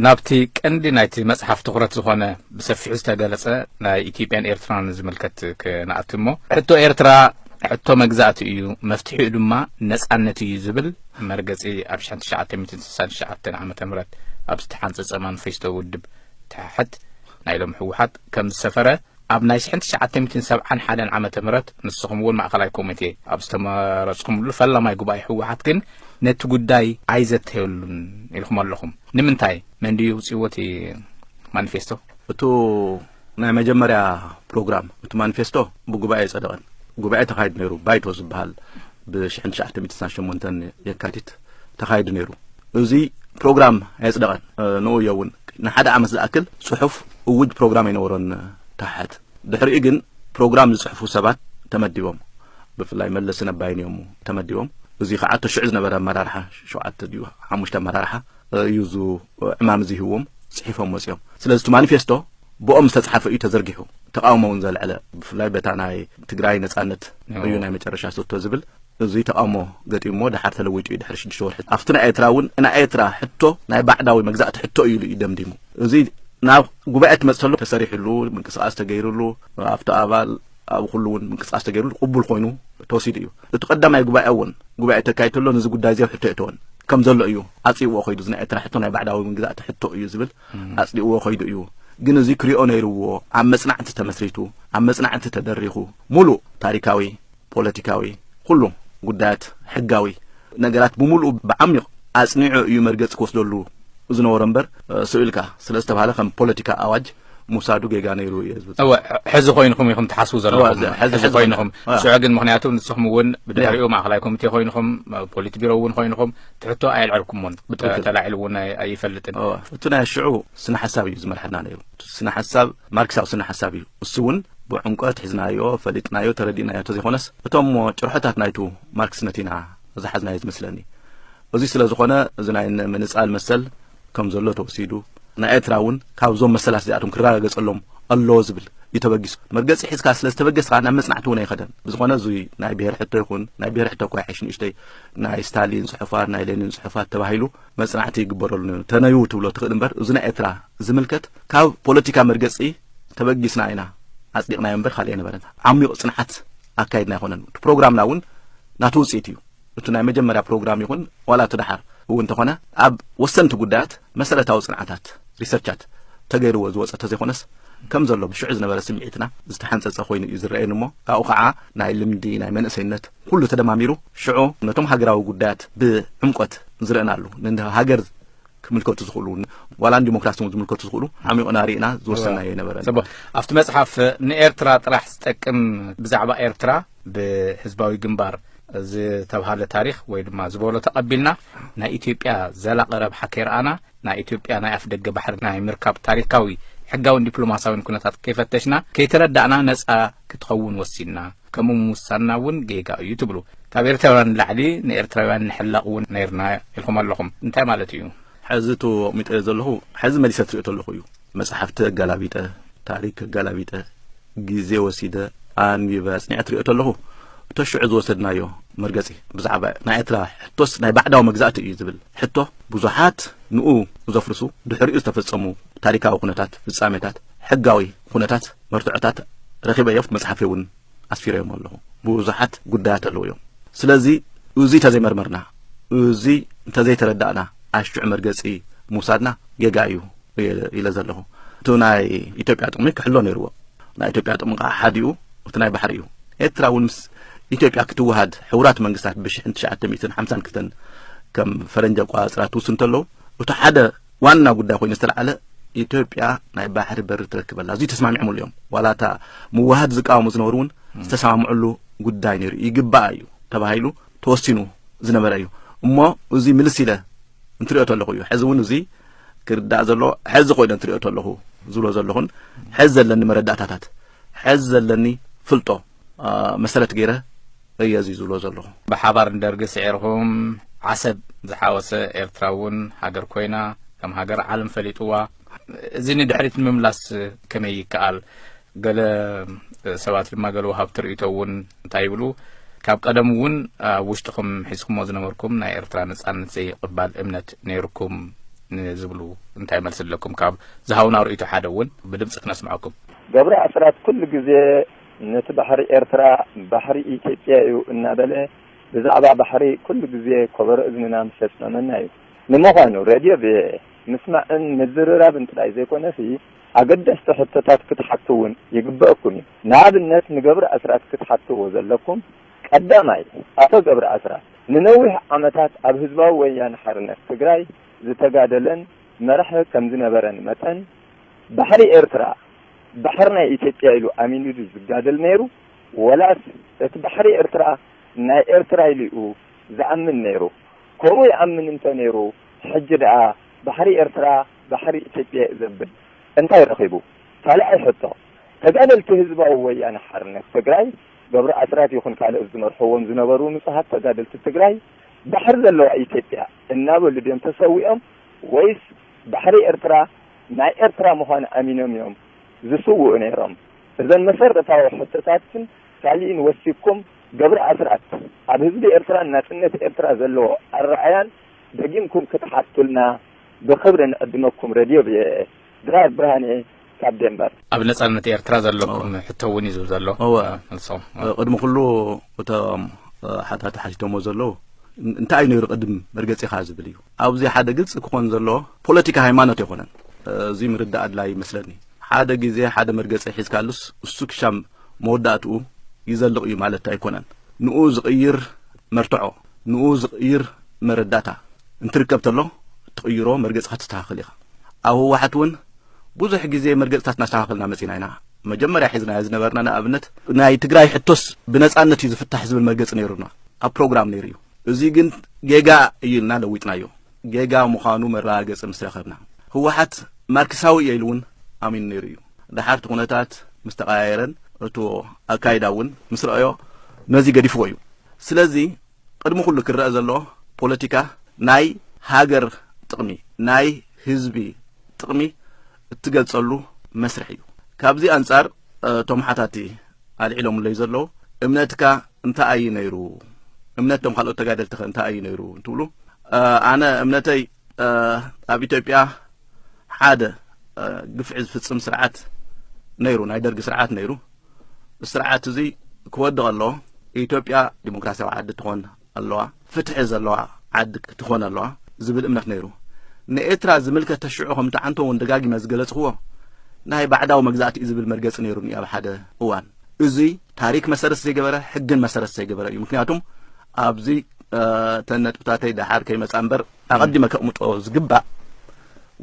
ናብቲ ቀንዲ ናይቲ መጽሓፍ ትዅረት ዝኾነ ብሰፊሑ ዝተገለጸ ናይ ኢትዮጵያን ኤርትራን ዝምልከት ክነኣቲ እሞ ሕቶ ኤርትራ ሕቶ መግዛእቲ እዩ፣ መፍትሒኡ ድማ ነጻነት እዩ ዝብል መርገጺ ኣብ 1969 ዓ ም ኣብ ዝተሓንጸጸ ማንፌስቶ ውድብ ተሓሕት ናይ ሎም ህወሓት ከም ዝሰፈረ ኣብ ናይ ስሕን ትሽዓተ ሚትን ሰብዓን ሓደን ዓመተ ምህረት ንስኹም እውን ማእኸላይ ኮሚቴ ኣብ ዝተመረፅኹምሉ ፈላማይ ጉባኤ ህወሓት ግን ነቲ ጉዳይ ኣይዘተየሉን ኢልኹም ኣለኹም። ንምንታይ? መን ድዩ ውፅዎ እቲ ማኒፌስቶ? እቱ ናይ መጀመርያ ፕሮግራም እቲ ማኒፌስቶ ብጉባኤ ኣይፀደቐን። ጉባኤ ተኻይድ ነይሩ ባይቶ ዝበሃል ብሽሕን ትሽዓተ ሚትን ስሳን ሸሞንተን የካቲት ተኻይዱ ነይሩ እዚ ፕሮግራም ኣየጽደቐን ንኡ እዮ እውን ንሓደ ዓመት ዝኣክል ጽሑፍ እውጅ ፕሮግራም ኣይነበሮን ታሕት ድሕሪኡ ግን ፕሮግራም ዝጽሕፉ ሰባት ተመዲቦም ብፍላይ መለስ ነባይን እዮም ተመዲቦም እዚ ከዓ እቶ ሽዑ ዝነበረ ኣመራርሓ ሸውዓተ ድዩ ሓሙሽተ ኣመራርሓ እዩ ዙ ዕማም እዚ ህዎም ጽሒፎም ወፂኦም ስለዚ እቲ ማኒፌስቶ ብኦም ዝተጻሓፈ እዩ ተዘርጊሑ ተቃውሞ እውን ዘልዐለ ብፍላይ በታ ናይ ትግራይ ነጻነት እዩ ናይ መጨረሻ ስቶ ዝብል እዙይ ተቃውሞ ገጢሞ ድሓር ተለዊጡ እዩ ድሕሪ ሽዱሽተ ወርሒ ኣብቲ ናይ ኤርትራ እውን ናይ ኤርትራ ሕቶ ናይ ባዕዳዊ መግዛእቲ ሕቶ እዩ ኢሉ እዩ ደምዲሙ እዙይ ናብ ጉባኤ ትመፅተሉ ተሰሪሕሉ ምንቅስቃስ ተገይርሉ ኣብቲ ኣባል ኣብ ኩሉ እውን ምንቅስቃስ ተገይርሉ ቅቡል ኮይኑ ተወሲዱ እዩ እቲ ቀዳማይ ጉባኤ እውን ጉባኤ ተካይድ ተሎ ነዚ ጉዳይ እዚ ኣብ ሕቶ የእተወን ከም ዘሎ እዩ ኣፅይዎ ኮይዱ እዚ ናይ ኤርትራ ሕቶ ናይ ባዕዳዊ ምግዛእቲ ሕቶ እዩ ዝብል ኣጽሊእዎ ከይዱ እዩ ግን እዚ ክሪኦ ነይርዎ ኣብ መጽናዕቲ ተመስሪቱ ኣብ መጽናዕቲ ተደሪኹ ሙሉእ ታሪካዊ ፖለቲካዊ ኩሉ ጉዳያት ሕጋዊ ነገራት ብምሉኡ ብዓሚቕ ኣጽኒዑ እዩ መርገጺ ክወስደሉ ዝነበሮ እምበር ስብ ኢልካ ስለ ዝተባሃለ ከም ፖለቲካ ኣዋጅ ሙሳዱ ጌጋ ነይሩ እየ ዝብል እወ ሕዚ ኮይንኩም ኢኹም ትሓስቡ ዘለኹም ሕዚ ኮይንኹም ሽዑ ግን ምክንያቱ ንስኹም እውን ብድሕሪኡ ማእኸላይ ኮሚቴ ኮይንኹም ፖሊት ቢሮ እውን ኮይንኹም ትሕቶ ኣየልዐልኩሞን ብትዊተር ተላዒሉ እውን ኣይፈልጥን እቲ ናይ ሽዑ ስነ ሓሳብ እዩ ዝመርሐና ነይሩ ስነ ሓሳብ ማርክሳዊ ስነ ሓሳብ እዩ እሱ እውን ብዕምቆት ሒዝናዮ ፈሊጥናዮ ተረዲእናዮ ተዘይኮነስ እቶም ጭርሖታት ናይቱ ማርክስነት ኢና ዝሓዝናዮ ዝመስለኒ እዙይ ስለ ዝኾነ እዚ ናይ ምንፃል መሰል ከም ዘሎ ተወሲዱ ናይ ኤርትራ እውን ካብዞም መሰላት እዚኣቶም ክረጋገጸሎም ኣለዎ ዝብል እዩ ተበጊሱ መርገጺ ሒዝካ ስለ ዝተበገስካ ናብ መጽናዕቲ እውን ኣይኸደን ብዝኾነ እዙይ ናይ ብሄር ሕቶ ይኹን ናይ ብሄር ሕቶ እኳ ይሓይሽ ንእሽተይ ናይ ስታሊን ጽሑፋት ናይ ሌኒን ጽሑፋት ተባሂሉ መጽናዕቲ ይግበረሉ ነይሩ ተነዩ ትብሎ ትኽእል እምበር እዚ ናይ ኤርትራ ዝምልከት ካብ ፖለቲካ መርገጺ ተበጊስና ኢና ኣጽዲቕናዮ እምበር ካልእ ኣይነበረን ዓሚቕ ጽንዓት ኣካይድና ኣይኮነን እቲ ፕሮግራምና እውን ናቱ ውፅኢት እዩ እቲ ናይ መጀመርያ ፕሮግራም ይኹን ዋላ እቲ ደሓር እውን ተኾነ ኣብ ወሰንቲ ጉዳያት መሰረታዊ ፅንዓታት፣ ሪሰርቻት፣ ተገይርዎ ዝወፀ ተዘይኾነስ ከም ዘሎ ብሽዑ ዝነበረ ስምዒትና ዝተሓንፀፀ ኮይኑ እዩ ዝረኣየኒ እሞ ካብኡ ከዓ ናይ ልምዲ ናይ መንእሰይነት ኩሉ ተደማሚሩ ሽዑ ነቶም ሃገራዊ ጉዳያት ብዕምቆት ዝረእናሉ ንሃገር ክምልከቱ ዝኽእሉ ዋላ ንዲሞክራሲ እውን ዝምልከቱ ዝኽእሉ ዓሚቕና ርኢና ዝወሰናዮ ኣይነበረን ጽቡቅ ኣብቲ መጽሓፍ ንኤርትራ ጥራሕ ዝጠቅም ብዛዕባ ኤርትራ ብህዝባዊ ግንባር ዝተብሃለ ታሪኽ ወይ ድማ ዝበሎ ተቐቢልና ናይ ኢትዮጵያ ዘላቒ ረብሓ ከይረኣና ናይ ኢትዮጵያ ናይ ኣፍ ደገ ባሕሪ ናይ ምርካብ ታሪካዊ ሕጋዊን ዲፕሎማሳዊን ኩነታት ከይፈተሽና ከይተረዳእና ነጻ ክትኸውን ወሲንና ከምኡ ምውሳንና እውን ጌጋ እዩ ትብሉ ካብ ኤርትራውያን ንላዕሊ ንኤርትራውያን ንሕለቕ እውን ነይርና ኢልኩም ኣለኹም እንታይ ማለት እዩ ሐዚ እቶ ኣቕሚጠዮ ዘለኹ ሐዚ መሊሰ ትሪኦ ተለኹ እዩ መፅሓፍቲ ኣጋላቢጠ ታሪክ ኣጋላቢጠ ግዜ ወሲደ ኣንቢበ ኣፅኒዐ ትሪኦ ተለኹ እቶ ሽዑ ዝወሰድናዮ መርገፂ ብዛዕባ ናይ ኤርትራ ሕቶስ ናይ ባዕዳዊ መግዛእቲ እዩ ዝብል ሕቶ ብዙሓት ንኡ ዘፍርሱ ድሕሪኡ ዝተፈፀሙ ታሪካዊ ኩነታት ፍፃሜታት ሕጋዊ ኩነታት መርትዖታት ረኺበ እዮብቲ መጽሓፈይ እውን ኣስፊረዮም ኣለኹ ብዙሓት ጉዳያት ኣለዉ እዮም ስለዚ እዚ እንተዘይመርመርና እዚ እንተዘይተረዳእና ኣሽዑ መርገፂ ምውሳድና ጌጋ እዩ ኢለ ዘለኹ እቲ ናይ ኢትዮጵያ ጥቕሚ ክሕሎ ነይርዎ ናይ ኢትዮጵያ ጥቕሚ ከዓ ሓዲኡ እቲ ናይ ባሕሪ እዩ ኤርትራ እውን ምስ ኢትዮጵያ ክትወሃድ ሕቡራት መንግስታት ብሽሕን ትሽዓተ ሚእትን ሓምሳን ክልተን ከም ፈረንጂ ኣቆፃፅራ ትውስን እንተለዉ እቲ ሓደ ዋና ጉዳይ ኮይኑ ዝተላዕለ ኢትዮጵያ ናይ ባሕሪ በሪ ትረክብ ኣላ እዙይ ተስማሚዖምሉ እዮም ዋላ እታ ምዋሃድ ዝቃወሙ ዝነበሩ እውን ዝተሰማምዕሉ ጉዳይ ነይሩ ይግባእ እዩ ተባሂሉ ተወሲኑ ዝነበረ እዩ እሞ እዚ ምልስ ኢለ እንትሪኦ ተለኹ እዩ ሕዚ እውን እዚ ክርዳእ ዘሎ ሕዚ ኮይነ እንትሪኦ ተለኹ ዝብሎ ዘለኹን ሕዚ ዘለኒ መረዳእታታት ሕዚ ዘለኒ ፍልጦ መሰረት ገይረ እየ እዚ ዝብሎ ዘለኹ ብሓባር ንደርጊ ስዒርኩም ዓሰብ ዝሓወሰ ኤርትራ እውን ሃገር ኮይና ከም ሃገር ዓለም ፈሊጥዋ እዚ ንድሕሪት ንምምላስ ከመይ ይከኣል ገለ ሰባት ድማ ገለ ወሃብቲ ርእቶ እውን እንታይ ይብሉ ካብ ቀደም እውን ኣብ ውሽጥኹም ሒዝኩሞ ዝነበርኩም ናይ ኤርትራ ነጻነት ዘይቕባል እምነት ነይርኩም ንዝብሉ እንታይ መልሲ ኣለኩም ካብ ዝሃውና ርእቶ ሓደ እውን ብድምፂ ክነስምዐኩም ገብረ ኣስራት ኩሉ ግዜ ነቲ ባሕሪ ኤርትራ ባሕሪ ኢትዮጵያ እዩ እናበለ ብዛዕባ ባሕሪ ኩሉ ግዜ ኮበሮ እዝንና ምስ የጽመመና እዩ። ንምዃኑ ሬድዮ ቪኦኤ ምስማዕን ምዝርራብን ጥራይ ዘይኮነሲ ኣገደስቲ ሕቶታት ክትሓቱ እውን ይግበኣኩም እዩ። ንኣብነት ንገብረኣስራት ክትሓትዎ ዘለኩም፣ ቀዳማይ፣ ኣቶ ገብረኣስራት ንነዊሕ ዓመታት ኣብ ህዝባዊ ወያነ ሓርነት ትግራይ ዝተጋደለን መራሒ ከምዝነበረን መጠን፣ ባሕሪ ኤርትራ ባሕሪ ናይ ኢትዮጵያ ኢሉ ኣሚኑ ድዩ ዝጋደል ነይሩ ወላስ እቲ ባሕሪ ኤርትራ ናይ ኤርትራ ኢሉ ዩ ዝኣምን ነይሩ ከምኡ ይኣምን እንተ ነይሩ ሕጂ ድኣ ባሕሪ ኤርትራ ባሕሪ ኢትዮጵያ ዩ ዘብል እንታይ ረኺቡ ካልኣይ ሕቶ ተጋደልቲ ህዝባዊ ወያነ ሓርነት ትግራይ ገብሩ ኣስራት ይኹን ካልኦት ዝመርሕዎም ዝነበሩ ንጹሃት ተጋደልቲ ትግራይ ባሕሪ ዘለዋ ኢትዮጵያ እናበሉ ድዮም ተሰዊኦም ወይስ ባሕሪ ኤርትራ ናይ ኤርትራ ምዃን ኣሚኖም እዮም ዝስውኡ ነይሮም። እዘን መሰረታዊ ሕቶታትን ካሊእን ወሲብኩም ገብሩ ኣስራት ኣብ ህዝቢ ኤርትራን ናጽነት ኤርትራ ዘለዎ ኣረኣያን ደጊምኩም ክትሓቱልና ብኽብሪ ንዕድመኩም ረድዮ ቪኦኤ። ድራር ብርሃነ ካብ ዴንበር። ኣብ ነጻነት ኤርትራ ዘለኩም ሕቶ ውን እዩ ዝብል ዘሎ እወ መልሶ። ቅድሚ ኩሉ እቶም ሓታቲ ሓቲቶሞ ዘለዉ እንታይ እዩ ነይሩ ቅድም መርገጺኻ ዝብል እዩ። ኣብዚ ሓደ ግልፂ ክኾን ዘለዎ ፖለቲካ ሃይማኖት የኮነን እዙይ ምርዳእ ኣድላይ ይመስለኒ ሓደ ግዜ ሓደ መርገፂ ሒዝካሉስ እሱ ክሻም መወዳእትኡ ይዘልቕ እዩ ማለት ኣይኮነን ንኡ ዝቕይር መርትዖ ንኡ ዝቕይር መረዳእታ እንትርከብ ተሎ ትቕይሮ መርገፂ ከተስተኻኽል ኢኻ ኣብ ህወሓት እውን ብዙሕ ግዜ መርገፅታት እናስተኻኸልና መፂና ኢና መጀመርያ ሒዝናዮ ዝነበርና ንኣብነት ናይ ትግራይ ሕቶስ ብነፃነት እዩ ዝፍታሕ ዝብል መርገፂ ነይሩና ኣብ ፕሮግራም ነይሩ እዩ እዚ ግን ጌጋ እዩ ኢልና ለዊጥናዮ ጌጋ ምዃኑ መረጋገፂ ምስ ረኸብና ህወሓት ማርክሳዊ እየ ኢሉ እውን ኣሚኑ ነይሩ እዩ ደሓር እቲ ኩነታት ምስ ተቀያየረን እቶ ኣካይዳ እውን ምስ ረኣዮ ነዚ ገዲፍዎ እዩ ስለዚ ቅድሚ ኩሉ ክረአ ዘለዎ ፖለቲካ ናይ ሃገር ጥቕሚ ናይ ህዝቢ ጥቕሚ እትገልጸሉ መስርሕ እዩ ካብዚ ኣንጻር እቶም ሓታቲ ኣልዒሎምለይ ዘለዉ እምነትካ እንታይ ኣዩ ነይሩ እምነት ቶም ካልኦት ተጋደልቲ ከ እንታይ ኣዩ ነይሩ እንትብሉ ኣነ እምነተይ ኣብ ኢትዮጵያ ሓደ ግፍዒ ዝፍጽም ስርዓት ነይሩ ናይ ደርጊ ስርዓት ነይሩ ስርዓት እዚ ክወድቕ ኣለዎ ኢትዮጵያ ዲሞክራሲያዊ ዓዲ ትኾን ኣለዋ ፍትሒ ዘለዋ ዓዲ ክትኾን ኣለዋ ዝብል እምነት ነይሩ ንኤርትራ ዝምልከት ተሽዑ ከም ተዓንቶ እውን ደጋጊመ ዝገለጽክዎ ናይ ባዕዳዊ መግዛእቲ እዩ ዝብል መርገጺ ነይሩኒ ኣብ ሓደ እዋን እዙይ ታሪክ መሰረት ዘይገበረ ሕግን መሰረት ዘይገበረ እዩ ምክንያቱም ኣብዚ ተን ነጥብታተይ ደሓር ከይመፃ እምበር ኣቐዲመ ከቕምጦ ዝግባእ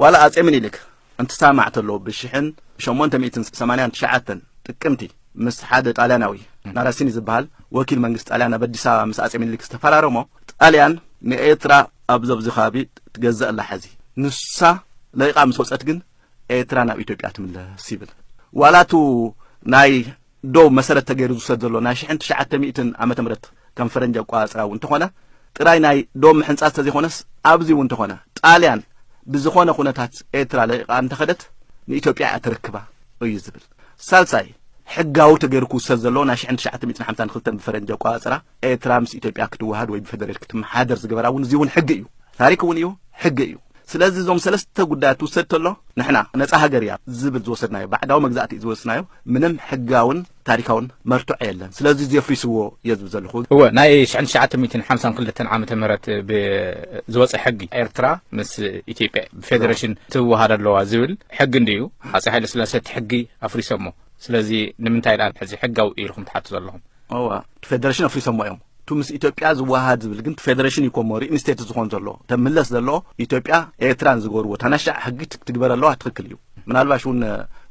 ዋላ ኣጼ ምኒልክ እንትሳማዕ ተሎ ብሽሕን ሸሞንተ ሚእትን ሰማንያን ትሽዓተን ጥቅምቲ ምስ ሓደ ጣልያናዊ ናራሲኒ ዝበሃል ወኪል መንግስቲ ጣልያን ኣብ ኣዲስ ኣበባ ምስ ኣጼ ሚኒሊክ ዝተፈራረሞ ጣልያን ንኤርትራ ኣብ ዘብዚ ከባቢ ትገዝእ ኣላ ሐዚ ንሳ ለቂቃ ምስ ወፀት ግን ኤርትራ ናብ ኢትዮጵያ ትምለስ ይብል ዋላቱ ናይ ዶብ መሰረት ተገይሩ ዝውሰድ ዘሎ ናይ ሽሕን ትሽዓተ ሚእትን ዓመተ ምህረት ከም ፈረንጂ ኣቆፃፅራ እውን እንተኾነ ጥራይ ናይ ዶብ ምሕንፃፅ ተዘይኾነስ ኣብዚ እውን እንተኾነ ጣልያን ብዝኾነ ኩነታት ኤርትራ ለቒቓ እንተኸደት ንኢትዮጵያ እያ ተረክባ እዩ ዝብል። ሳልሳይ ሕጋዊ ተገይሩ ክውሰድ ዘለዎ ናይ ሽሕን ትሽዓተ ሚእትን ሓምሳን ክልተን ብፈረንጂ ኣቆፃፅራ ኤርትራ ምስ ኢትዮጵያ ክትወሃድ ወይ ብፌደሬት ክትመሓደር ዝገበራ እውን እዚ እውን ሕጊ እዩ፣ ታሪክ እውን እዩ፣ ሕጊ እዩ። ስለዚ እዞም ሰለስተ ጉዳያት ትውሰድ ተሎ ንሕና ነፃ ሃገር እያ ዝብል ዝወሰድናዮ ባዕዳዊ መግዛእቲ ዝወስናዮ ምንም ሕጋውን ታሪካውን መርትዖ የለን። ስለዚ እዚ የፍሪስዎ እየ ዝብል ዘለኹ። እወ ናይ ሽሕን ትሽዓተ ሚእትን ሓምሳን ክልተን ዓመተ ምህረት ብዝወፀ ሕጊ ኤርትራ ምስ ኢትዮጵያ ብፌዴሬሽን ትወሃድ ኣለዋ ዝብል ሕጊ እንድዩ ሃፀይ ሃይለስላሴ እቲ ሕጊ ኣፍሪሶሞ። ስለዚ ንምንታይ ዳኣ ሕዚ ሕጋዊ እዩ ኢልኩም ትሓቱ ዘለኹም? እወ እቲ ፌደሬሽን ኣፍሪሶሞ እዮም እቱ ምስ ኢትዮጵያ ዝወሃሃድ ዝብል ግን ፌደሬሽን እዩ ኮሞ ሪኢንስቴት ዝኾን ዘሎ እተ ምለስ ዘለዎ ኢትዮጵያ ኤርትራን ዝገበርዎ ታናሻዕ ሕጊ ትግበር ኣለዋ ትክክል እዩ ምናልባሽ እውን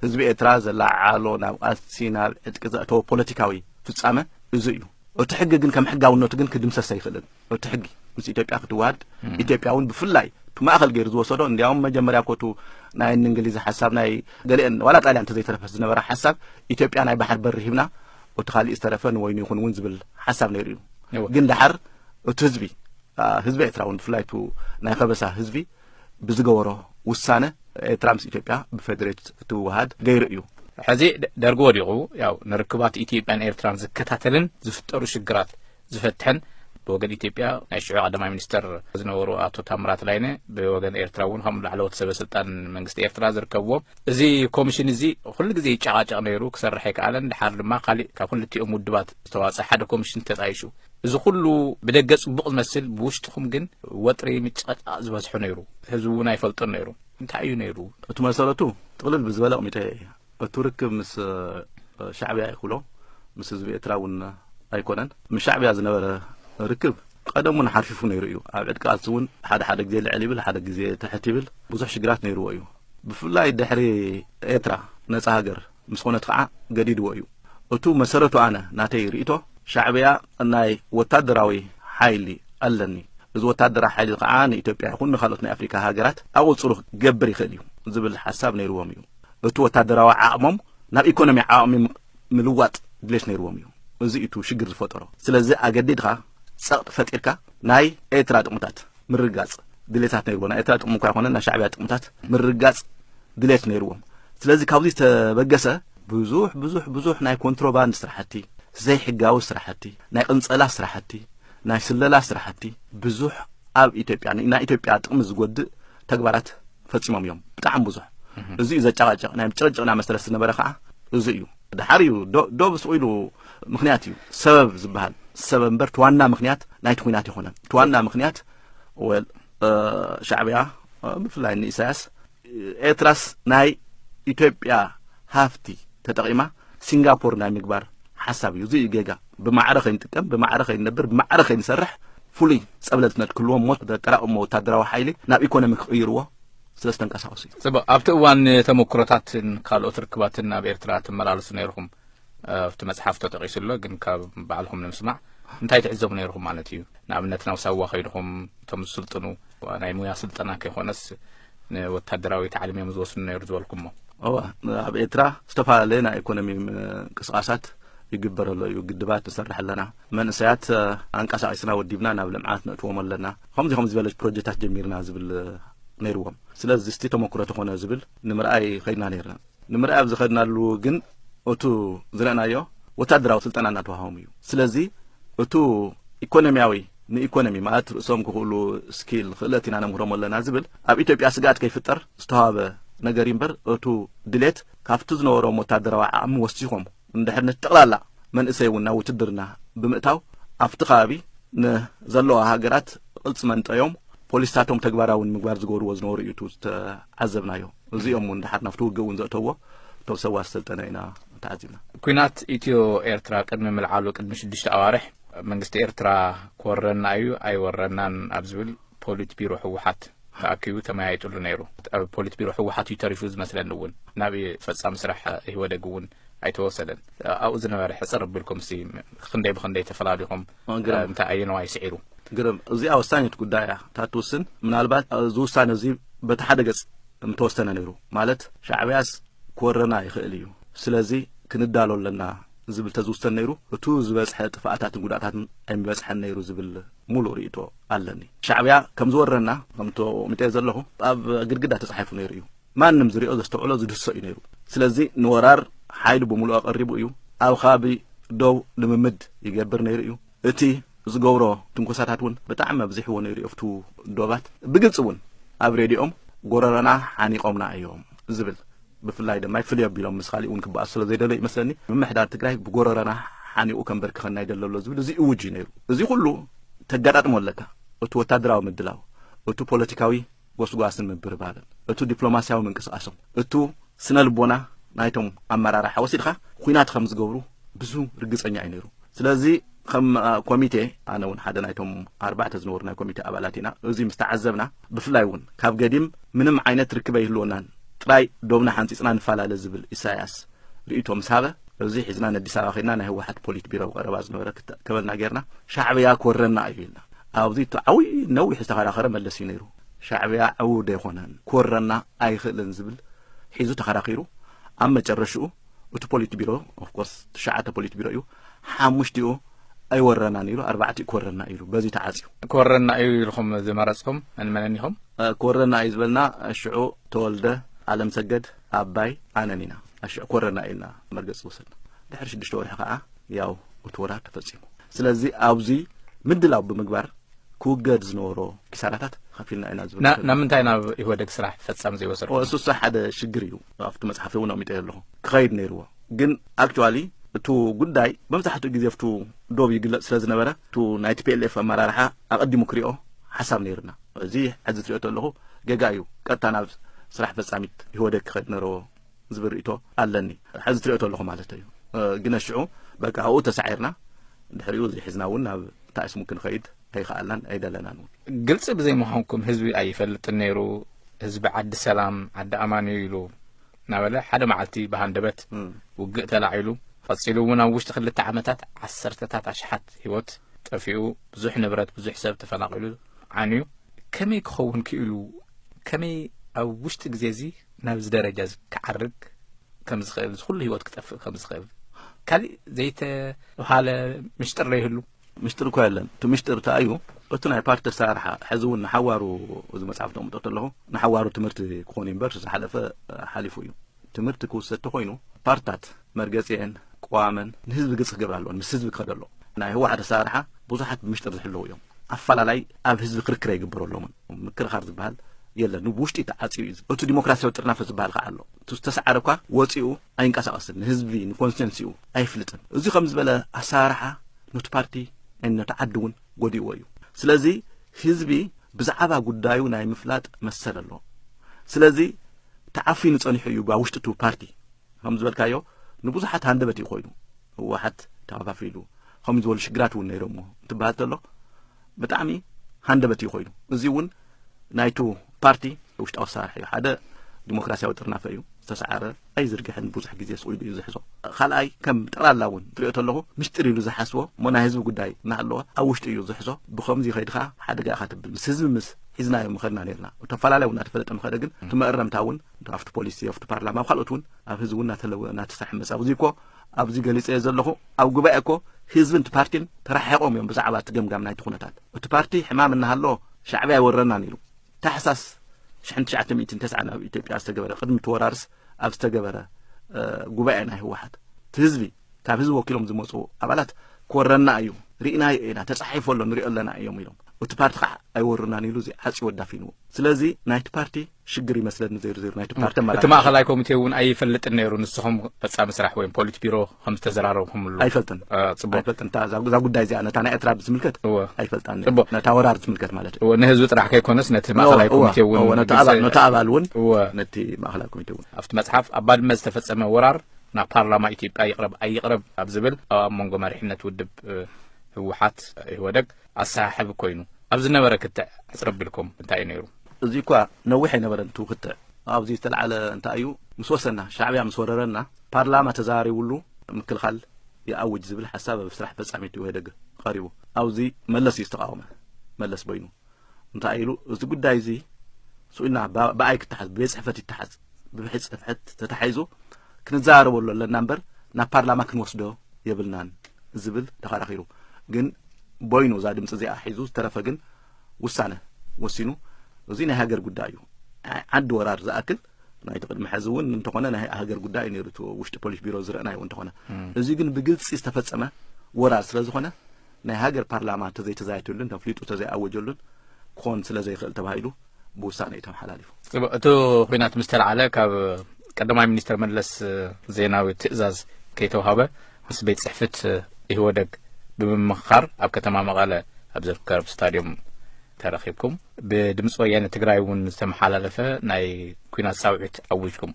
ህዝቢ ኤርትራ ዘለዓዓሎ ናብ ቃልሲ ናብ ዕጥቂ ዘእተወ ፖለቲካዊ ፍጻመ እዚ እዩ እቲ ሕጊ ግን ከም ሕጋውነቱ ግን ክድምሰሰ ይኽእልን እቲ ሕጊ ምስ ኢትዮጵያ ክትዋሃድ ኢትዮጵያ እውን ብፍላይ ብማእኸል ገይሩ ዝወሰዶ እንዲያውም መጀመርያ ኮቱ ናይ እንግሊዝ ሓሳብ ናይ ገሊአን ዋላ ጣልያን ተዘይተረፈስ ዝነበረ ሓሳብ ኢትዮጵያ ናይ ባሕር በሪ ሂብና እቲ ካሊእ ዝተረፈ ንወይኑ ይኹን እውን ዝብል ሓሳብ ነይሩ እዩ ግን ዳሓር እቲ ህዝቢ ህዝቢ ኤርትራ እውን ብፍላይ ቱ ናይ ከበሳ ህዝቢ ብዝገበሮ ውሳነ ኤርትራ ምስ ኢትዮጵያ ብፌዴሬት ክትወሃድ ገይሩ እዩ ሕዚ ደርጊ ወዲቑ ያው ንርክባት ኢትዮጵያን ኤርትራን ዝከታተልን ዝፍጠሩ ሽግራት ዝፈትሐን ብወገን ኢትዮጵያ ናይ ሽዑ ቀዳማይ ሚኒስተር ዝነበሩ ኣቶ ታምራት ላይነ ብወገን ኤርትራ እውን ከም ላዕለዎት ሰበ ስልጣን መንግስቲ ኤርትራ ዝርከብዎ እዚ ኮሚሽን እዚ ኩሉ ግዜ ይጨቃጨቕ ነይሩ ክሰርሕ ኣይከኣለን ድሓር ድማ ካሊእ ካብ ክልቲኦም ውድባት ዝተዋፀ ሓደ ኮሚሽን ተጣይሹ እዚ ኩሉ ብደገ ጽቡቕ ዝመስል ብውሽጥኹም ግን ወጥሪ ምጭቕጫቕ ዝበዝሖ ነይሩ ህዝቢ እውን ኣይፈልጦን ነይሩ እንታይ እዩ ነይሩ እቲ መሰረቱ ጥቕልል ብዝበለ ኣቕሚጠ እቱ ርክብ ምስ ሻዕብያ ይክሎ ምስ ህዝቢ ኤርትራ እውን ኣይኮነን ምስ ሻዕብያ ዝነበረ ርክብ ቀደም እውን ሓርፊፉ ነይሩ እዩ ኣብ ዕድቂ ቃልሲ እውን ሓደ ሓደ ግዜ ልዕል ይብል ሓደ ግዜ ትሕት ይብል ብዙሕ ሽግራት ነይርዎ እዩ ብፍላይ ድሕሪ ኤርትራ ነፃ ሃገር ምስ ኮነት ከዓ ገዲድዎ እዩ እቱ መሰረቱ ኣነ ናተይ ርእቶ ሻዕብያ ናይ ወታደራዊ ሓይሊ ኣለኒ እዚ ወታደራዊ ሓይሊ ከዓ ንኢትዮጵያ ይኹን ንካልኦት ናይ ኣፍሪካ ሃገራት ኣቁፅሩ ክገብር ይኽእል እዩ ዝብል ሓሳብ ነይርዎም እዩ እቱ ወታደራዊ ዓቕሞም ናብ ኢኮኖሚ ዓቕሚ ምልዋጥ ድሌት ነይርዎም እዩ እዚ እቱ ሽግር ዝፈጠሮ ስለዚ ኣገዲድካ ፀቕጥ ፈጢርካ ናይ ኤርትራ ጥቕምታት ምርጋፅ ድሌታት ነይርዎ ናይ ኤርትራ ጥቕሚ እኳ ይኮነ ናይ ሻዕብያ ጥቕምታት ምርጋፅ ድሌት ነይርዎም ስለዚ ካብዚ ተበገሰ ብዙሕ ብዙሕ ብዙሕ ናይ ኮንትሮባንድ ስራሕቲ ዘይሕጋዊ ስራሕቲ ናይ ቅንፀላ ስራሕቲ ናይ ስለላ ስራሕቲ ብዙሕ ኣብ ኢትዮጵያ ናይ ኢትዮጵያ ጥቕሚ ዝጎድእ ተግባራት ፈጺሞም እዮም ብጣዕሚ ብዙሕ እዚ እዩ ዘጨቃጨቅ ናይ ጭቅጭቅና መሰረት ዝነበረ ከዓ እዚ እዩ ድሓር እዩ ዶብ ስቁ ኢሉ ምክንያት እዩ ሰበብ ዝበሃል ሰበብ እምበር ትዋና ምክንያት ናይቲ ኩናት ይኮነን ትዋና ምክንያት ወል ሻዕብያ ብፍላይ ንኢሳያስ ኤርትራስ ናይ ኢትዮጵያ ሃፍቲ ተጠቂማ ሲንጋፖር ናይ ምግባር ሓሳብ እዩ እዚ እዩ ጌጋ ብማዕረ ከይንጥቀም ብማዕረ ከይንነብር ብማዕረ ከይንሰርሕ ፍሉይ ጸብለት ነድክልዎም ሞት ዘጠራቕሞ ወታደራዊ ሓይሊ ናብ ኢኮኖሚ ክቕይርዎ ስለ ዝተንቀሳቀሱ እዩ ጽቡቅ ኣብቲ እዋን ተመክሮታትን ካልኦት ርክባትን ናብ ኤርትራ ትመላለሱ ነይርኹም ኣብቲ መጽሓፍ ተጠቂሱ ኣሎ ግን ካብ ባዕልኹም ንምስማዕ እንታይ ትዕዘቡ ነይርኹም ማለት እዩ ንኣብነት ናብ ሳዋ ከይድኹም እቶም ዝስልጥኑ ናይ ሙያ ስልጠና ከይኮነስ ንወታደራዊ ታዕሊም እዮም ዝወስኑ ነይሩ ዝበልኩሞ እዋ ኣብ ኤርትራ ዝተፈላለየ ናይ ኢኮኖሚ ምንቅስቃሳት ይግበር ኣሎ እዩ ግድባት ንሰርሕ ኣለና መንእሰያት ኣንቀሳቂስና ወዲብና ናብ ልምዓት ነእትዎም ኣለና ከምዚ ከምዚ ዝበለ ፕሮጀክታት ጀሚርና ዝብል ነይርዎም ስለዚ ስቲ ተመክሮ ተኾነ ዝብል ንምርኣይ ከድና ነርና ንምርኣይ ኣብ ዝኸድናሉ ግን እቱ ዝረእናዮ ወታደራዊ ስልጠና እናተዋሃቦም እዩ ስለዚ እቱ ኢኮኖሚያዊ ንኢኮኖሚ ማለት ርእሶም ክኽእሉ ስኪል ክእለት ኢና ነምህሮም ኣለና ዝብል ኣብ ኢትዮጵያ ስግኣት ከይፍጠር ዝተዋበ ነገር እምበር እቱ ድሌት ካብቲ ዝነበሮም ወታደራዊ ዓቕሚ ወሲኾም እንድሕር ነቲ ጠቕላላ መንእሰይ እውን ናብ ውትድርና ብምእታው ኣብቲ ከባቢ ንዘለዋ ሃገራት ቅልፂ መንጠዮም ፖሊስታቶም ተግባራዊ ንምግባር ዝገብርዎ ዝነበሩ እዩ ዝተዓዘብናዮ እዚኦም እውን ድሓር ናብቲ ውግእ እውን ዘእተዎ እቶም ሰዋር ሰልጠነ ኢና ተዓዚብና ኩናት ኢትዮ ኤርትራ ቅድሚ ምልዓሉ ቅድሚ ሽዱሽተ ኣዋርሕ መንግስቲ ኤርትራ ክወረና እዩ ኣይወረናን ኣብ ዝብል ፖሊት ቢሮ ህወሓት ተኣኪቡ ተመያይጥሉ ነይሩ። ኣብ ፖሊት ቢሮ ህወሓት እዩ ተሪፉ ዝመስለኒ እውን ናብ ፈፃሚ ስራሕ ኢህወደግ እውን ኣይተወሰደን። ኣብኡ ዝነበረ ሕፅር ኣቢልኩም ሲ ክንደይ ብክንደይ ተፈላሊኹም እንታይ ኣየነዋይ ስዒሩ? ግርም እዚኣ ወሳኒት ጉዳይ እያ እታ ትውስን ምናልባት እዚ ውሳነ እዚ በቲ ሓደ ገፅ እንተወሰነ ነይሩ ማለት ሻዕብያስ ክወረና ይኽእል እዩ ስለዚ ክንዳሎ ኣለና ዝብል ተዝውሰን ነይሩ እቱ ዝበፅሐ ጥፍኣታትን ጉድኣታትን ኣይምበፅሐን ነይሩ ዝብል ሙሉእ ሪኢቶ ኣለኒ ሻዕብያ ከም ዝወረና ከምቶ ሚጠዮ ዘለኹ ኣብ ግድግዳ ተጻሒፉ ነይሩ እዩ ማንም ዝሪኦ ዘስተውዕሎ ዝድህሶ እዩ ነይሩ ስለዚ ንወራር ሓይሉ ብምሉእ ኣቐሪቡ እዩ ኣብ ኻቢ ደው ልምምድ ይገብር ነይሩ እዩ እቲ ዝገብሮ ትንኮሳታት እውን ብጣዕሚ ኣብዚሕዎ ነይሩ ኣብቱ ዶባት ብግልፂ እውን ኣብ ሬድኦም ጎረረና ሓኒቆምና እዮም ዝብል ብፍላይ ድማ ፍልይ ኣቢሎም ምስ ካሊእ እውን ክበኣሱ ስለ ዘይደለዩ ይመስለኒ ምምሕዳር ትግራይ ብጎረረና ሓኒቑ ከምበርክኸና ይደለ ኣሎ ዝብል እዚ እውጅ እዩ ነይሩ እዚ ኩሉ ተጋጣጥሞ ኣለካ እቲ ወታደራዊ ምድላው እቲ ፖለቲካዊ ጎስጓስን ምብርባርን እቲ ዲፕሎማስያዊ ምንቅስቃሶም እቱ ስነ ልቦና ናይቶም ኣመራርሓ ወሲድካ ኩናት ከም ዝገብሩ ብዙ ርግፀኛ እዩ ነይሩ ስለዚ ከም ኮሚቴ ኣነ እውን ሓደ ናይቶም ኣርባዕተ ዝነበሩ ናይ ኮሚቴ ኣባላት ኢና እዚ ምስ ተዓዘብና ብፍላይ እውን ካብ ገዲም ምንም ዓይነት ርክበ ይህልወናን ጥራይ ዶብና ሓንፂፅና ንፈላለ ዝብል ኢሳያስ ርእቶ ምስ ሃበ እዚ ሒዝና ነዲስ ኣበባ ከድና ናይ ህወሓት ፖሊት ቢሮ ቀረባ ዝነበረ ክተከበልና ጌርና ሻዕብያ ክወረና እዩ ኢልና ኣብዚ እቲ ዓብይ ነዊሕ ዝተኸራኸረ መለስ እዩ ነይሩ ሻዕብያ ዕውድ ኣይኮነን ክወረና ኣይኽእልን ዝብል ሒዙ ተኸራኺሩ ኣብ መጨረሽኡ እቲ ፖሊት ቢሮ ኦፍኮርስ ትሽዓተ ፖሊት ቢሮ እዩ ሓሙሽቲኡ ኣይወረናን ኢሉ ኣርባዕቲኡ ክወረና ኢሉ በዚ ተዓፅዩ ክወረና እዩ ኢልኩም ዝመረፅኩም መንመነን ኢኹም ክወረና እዩ ዝበልና ሽዑ ተወልደ ኣለም ሰገድ ኣባይ ኣነን ኢና ኣሽዑ ክወረና ኢልና መርገፂ ወሰድና ድሕሪ ሽዱሽተ ወርሒ ከዓ ያው እቲ ወራር ተፈፂሙ ስለዚ ኣብዚ ምድላው ብምግባር ክውገድ ዝነበሮ ኪሳራታት ከፊልና ኢና ዝብል ናብ ምንታይ ናብ ኢህወደግ ስራሕ ፈፃሚ ዘይወሰድኩም እሱሳ ሓደ ሽግር እዩ ኣብቲ መጽሓፍቲ እውን ኣቕሚጠዮ ኣለኹ ክኸይድ ነይርዎ ግን ኣክቹዋሊ እቱ ጉዳይ መብዛሕትኡ ግዜ ብቱ ዶብ ይግለጽ ስለ ዝነበረ እቱ ናይ ቲፒኤልኤፍ ኣመራርሓ ኣቐዲሙ ክሪኦ ሓሳብ ነይርና እዚ ሕዚ ትሪኦ ተለኹ ጌጋ እዩ ቀጥታ ናብ ስራሕ ፈጻሚት ይህወደግ ክኸድ ነረዎ ዝብል ርእቶ ኣለኒ ሕዚ ትሪኦ ተለኹ ማለት እዩ ግን ኣሽዑ በቃ ኣብኡ ተሳዒርና ድሕሪኡ ዘይሕዝና እውን ናብ ታእስሙ ክንኸይድ ኣይኸኣልናን ኣይደለናን እውን። ግልፂ ብዘይምዃንኩም ህዝቢ ኣይፈልጥን ነይሩ፣ ህዝቢ ዓዲ ሰላም ዓዲ ኣማን እዩ ኢሉ እናበለ ሓደ መዓልቲ ብሃንደበት ውግእ ተላዒሉ ቐፂሉ እውን ኣብ ውሽጢ ክልተ ዓመታት ዓሰርተታት ኣሽሓት ህይወት ጠፊኡ ብዙሕ ንብረት ብዙሕ ሰብ ተፈናቒሉ ዓንዩ ከመይ ክኸውን ክኢሉ ከመይ ኣብ ውሽጢ ግዜ እዚ ናብዚ ደረጃ እዚ ክዓርግ ከም ዝኽእል እዚ ኩሉ ህይወት ክጠፍእ ከም ዝኽእል ካሊእ ዘይተብሃለ ምሽጥር ዘይህሉ ምሽጥር እኮ የለን እቲ ምሽጥር እታይ እዩ እቲ ናይ ፓርቲ ኣሰራርሓ ሕዚ እውን ንሓዋሩ እዚ መፅሓፍ ተቕምጦ ተለኹ ንሓዋሩ ትምህርቲ ክኾን እምበር ዝሓለፈ ሓሊፉ እዩ ትምህርቲ ክውሰድ ተኾይኑ ፓርትታት መርገፂኤን ቅዋመን ንህዝቢ ግልፂ ክገብር ኣለዎን ምስ ህዝቢ ክኸደ ኣለዎ ናይ ህወሓት ኣሰራርሓ ብዙሓት ብምሽጥር ዝሕልው እዮም ኣፈላላይ ኣብ ህዝቢ ክርክር ኣይግበረሎምን ምክርኻር ዝበሃል የለን ብውሽጢ ተዓፅዩ እዩ እቲ ዲሞክራሲያዊ ጥርናፈ ዝበሃል ከዓ ኣሎ ዝተሰዓረ እኳ ወፂኡ ኣይንቀሳቀስን ንህዝቢ ንኮንስቲንሲኡ ኣይፍልጥን እዚ ከም ዝበለ ኣሰራርሓ ኑቲ ፓርቲ ን ነቲ ዓዲ እውን ጎዲእዎ እዩ ስለዚ ህዝቢ ብዛዕባ ጉዳዩ ናይ ምፍላጥ መሰል ኣለዎ ስለዚ ተዓፊኑ ጸኒሑ እዩ ኣብ ውሽጢ እቲ ፓርቲ ከም ዝበልካዮ ንብዙሓት ሃንደበት እዩ ኮይኑ ህወሓት ተኸፋፊሉ ከምኡ ዝበሉ ሽግራት እውን ነይሮምዎ እንትበሃል ተሎ ብጣዕሚ ሃንደበት እዩ ኮይኑ እዚ እውን ናይቱ ፓርቲ ውሽጣዊ ኣሰራርሐ እዩ ሓደ ዲሞክራሲያዊ ጥርናፈ እዩ ዝተሰዓረ ኣይዝርግሕን ብዙሕ ግዜ ስኢሉ እዩ ዝሕዞ ካልኣይ ከም ጠቕላላ እውን ትሪኦ ተለኹ ምስጢር ኢሉ ዝሓስቦ እሞ ናይ ህዝቢ ጉዳይ እናሃለወ ኣብ ውሽጢ እዩ ዝሕዞ ብከምዚ ከይዲ ከዓ ሓደጋ ኢኻ ትብል ምስ ህዝቢ ምስ ሒዝናዮ ምኸድና ነርና ተፈላለዩ እናተፈለጠ ምኸደ ግን እቲ መእረምታ እውን ኣብቲ ፖሊሲ ኣብቲ ፓርላማ ኣብ ካልኦት እውን ኣብ ህዝቢ እውን እናተለወ እናተሰሐመሰ ኣብዚ እኮ ኣብዚ ገሊጸዮ ዘለኹ ኣብ ጉባኤ እኮ ህዝብን እቲ ፓርቲን ተራሒቖም እዮም ብዛዕባ እቲ ገምጋም ናይቲ ኩነታት እቲ ፓርቲ ሕማም እናሃሎ ሻዕብያ ኣይወረናን ኢሉ ታሕሳስ ሽሕን ትሽዓተ ሚእትን ተስዓን ኣብ ኢትዮጵያ ዝተገበረ ቅድሚ እቲ ወራርስ ኣብ ዝተገበረ ጉባኤ ናይ ህወሓት እቲ ህዝቢ ካብ ህዝቢ ወኪሎም ዝመፁ ኣባላት ክወረና እዩ ርኢናዮ ኢና ተፃሒፎ ኣሎ ንሪኦ ኣለና እዮም ኢሎም እቲ ፓርቲ ከዓ ኣይወሩናን ኢሉ እዚ ዓፅዩ ወዳፊንዎ ስለዚ ናይቲ ፓርቲ ሽግር ይመስለኒ ዜርዜር ናይቲ ፓርቲ ኣመራርሓ እቲ ማእኸላይ ኮሚቴ እውን ኣይፈልጥን ነይሩ ንስኹም ፈፃሚ ስራሕ ወይም ፖሊት ቢሮ ከም ዝተዘራረብኩምሉ ኣይፈልጥን አ፣ ፅቡቅ ኣይፈልጥን እታ እዛ እዛ ጉዳይ እዚኣ ነታ ናይ ኤርትራ ብዝምልከት እወ ኣይፈልጣን ነይሩ። ጽቡቅ። ነታ ወራር ዝምልከት ማለት እዩ እወ ንህዝቢ ጥራሕ ከይኮነስ ነቲ ማእኸላይ እወ፣ ኮሚቴ እውን እወ፣ ነቲ ግልፂ- ኣባል- ነቲ ኣባል እውን እወ ነቲ ማእኸላይ ኮሚቴ እውን ኣብቲ መፅሓፍ ኣብ ባድመ ዝተፈፀመ ወራር ናብ ፓርላማ ኢትዮጵያ ይቕረብ ኣይቕረብ ኣብ ዝብል ኣብ መንጎ መሪሕነት ውድብ እ፣ ህወሓት እ፣ ኢህወደግ ኣሰሓሕብ ኮይኑ ኣብ ዝነበረ ክትዕ ኣፅረቢልኩም እንታይ እዩ ነይሩ እዚ እኳ ነዊሕ ኣይነበረን እቲ ውክትዕ። ኣብዚ ዝተልዓለ እንታይ እዩ ምስ ወሰና፣ ሻዕብያ ምስ ወረረና፣ ፓርላማ ተዘራሪቡሉ ምክልኻል ይኣውጅ ዝብል ሓሳብ ኣብ ስራሕ ፈጻሚት ኢህወደግ ቐሪቡ። ኣብዚ መለስ እዩ ዝተቓወመ። መለስ በይኑ እንታይ ኢሉ እዚ ጉዳይ እዚ ስኡልና ብኣይ ክተሓዝ ብቤት ጽሕፈት ይተሓዝ ብብሕት ጽሕፈት ተታሒዙ ክንዘራረበሉ ኣለና እምበር ናብ ፓርላማ ክንወስዶ የብልናን ዝብል ተኸራኺሩ ግን ቦይኑ እዛ ድምፂ እዚኣ ሒዙ ዝተረፈ ግን ውሳነ ወሲኑ እዚ ናይ ሃገር ጉዳይ እዩ ዓዲ ወራር ዝኣክል ናይቲ ቅድሚ ሕዚ እውን እንተኾነ ናይ ሃገር ጉዳይ ነይሩ እቲ ውሽጢ ፖሊስ ቢሮ ዝረአናዮ እንተኾነ እዚ ግን ብግልፂ ዝተፈፀመ ወራር ስለ ዝኾነ ናይ ሃገር ፓርላማ እንተዘይተዛይትሉን ተፍሊጡ እንተዘይኣወጀሉን ክኾን ስለ ዘይኽእል ተባሂሉ ብውሳነ እዩ ተመሓላሊፉ እቲ ኩናት ምስ ተላዓለ ካብ ቀዳማይ ሚኒስትር መለስ ዜናዊ ትእዛዝ ከይተዋሃበ ምስ ቤት ጽሕፍት ኢህወደግ ብምምኽኻር ኣብ ከተማ መቐለ ኣብ ዝርከብ ስታድዮም ተረኺብኩም ብድምፂ ወያነ ትግራይ እውን ዝተመሓላለፈ ናይ ኩናት ፃውዒት ኣዊጅኩም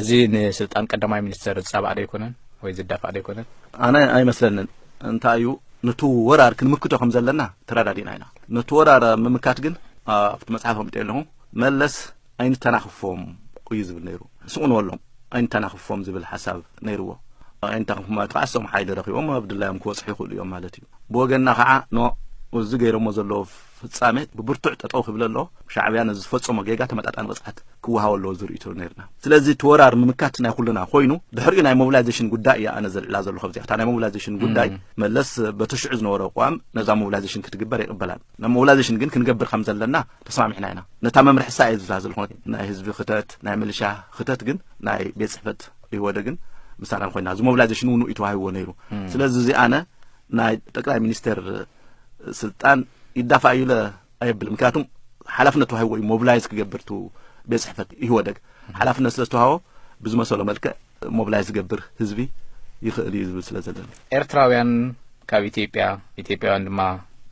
እዚ ንስልጣን ቀዳማይ ሚኒስተር ዝፃባእ ዶ ኣይኮነን ወይ ዝዳፋእ ዶ ኣይኮነን? ኣነ ኣይመስለንን እንታይ እዩ ነቲ ወራር ክንምክቶ ከም ዘለና ተረዳዲና ኢና ነቲ ወራር ምምካት ግን ኣብቲ መፅሓፍ ኣምጥየ ኣለኹ መለስ ኣይንተናኽፎም እዩ ዝብል ነይሩ ስቕ ንበሎም ኣይንተናኽፎም ዝብል ሓሳብ ነይርዎ ኣይንተናኽፎም ማለት ከዓ እሶም ሓይሊ ረኺቦም ኣብ ድላዮም ክወፅሑ ይኽእሉ እዮም ማለት እዩ ብወገንና ከዓ ኖ እዚ ገይሮሞ ዘለዎ ፍጻሜ ብብርቱዕ ጠጠው ክብል ኣለዎ ሻዕብያ ነዚ ዝፈጸሞ ጌጋ ተመጣጣኒ ቅፅዓት ክወሃቦ ኣለዎ ዝርእቶ ነርና ስለዚ እቲ ወራር ምምካት ናይ ኩልና ኮይኑ ድሕሪኡ ናይ ሞቢላይዜሽን ጉዳይ እያ ኣነ ዘልዕላ ዘለኹ ኣብዚኣ እታ ናይ ሞቢላይዜሽን ጉዳይ መለስ በቲ ሽዑ ዝነበረ ኣቋም ነዛ ሞቢላይዜሽን ክትግበር ይቕበላን ኖሞላይዜሽን ግን ክንገብር ከም ዘለና ተስማሚዕና ኢና ነታ መምርሒ ሳእ እየ ዝዛዝል ኾነ ናይ ህዝቢ ክተት ናይ ምልሻ ክተት ግን ናይ ቤት ፅሕፈት ይወደ ግን ምሳና ኮይና እዚ ሞቢላይዜሽን እውን እዩ ተዋሂብዎ ነይሩ ስለዚ እዚ ኣነ ናይ ጠቅላይ ሚኒስቴር ስልጣን ይዳፋእ እዩ ለ ኣየብልም ምክንያቱም ሓላፍነት ተዋሂብዎ እዩ ሞቢላይዝ ክገብር ቱ ቤት ፅሕፈት ይወደግ ሓላፍነት ስለ ዝተዋሃቦ ብዝመሰሎ መልክዕ ሞብላይዝ ዝገብር ህዝቢ ይኽእል እዩ ዝብል ስለ ዘለኒ። ኤርትራውያን ካብ ኢትዮጵያ፣ ኢትዮጵያውያን ድማ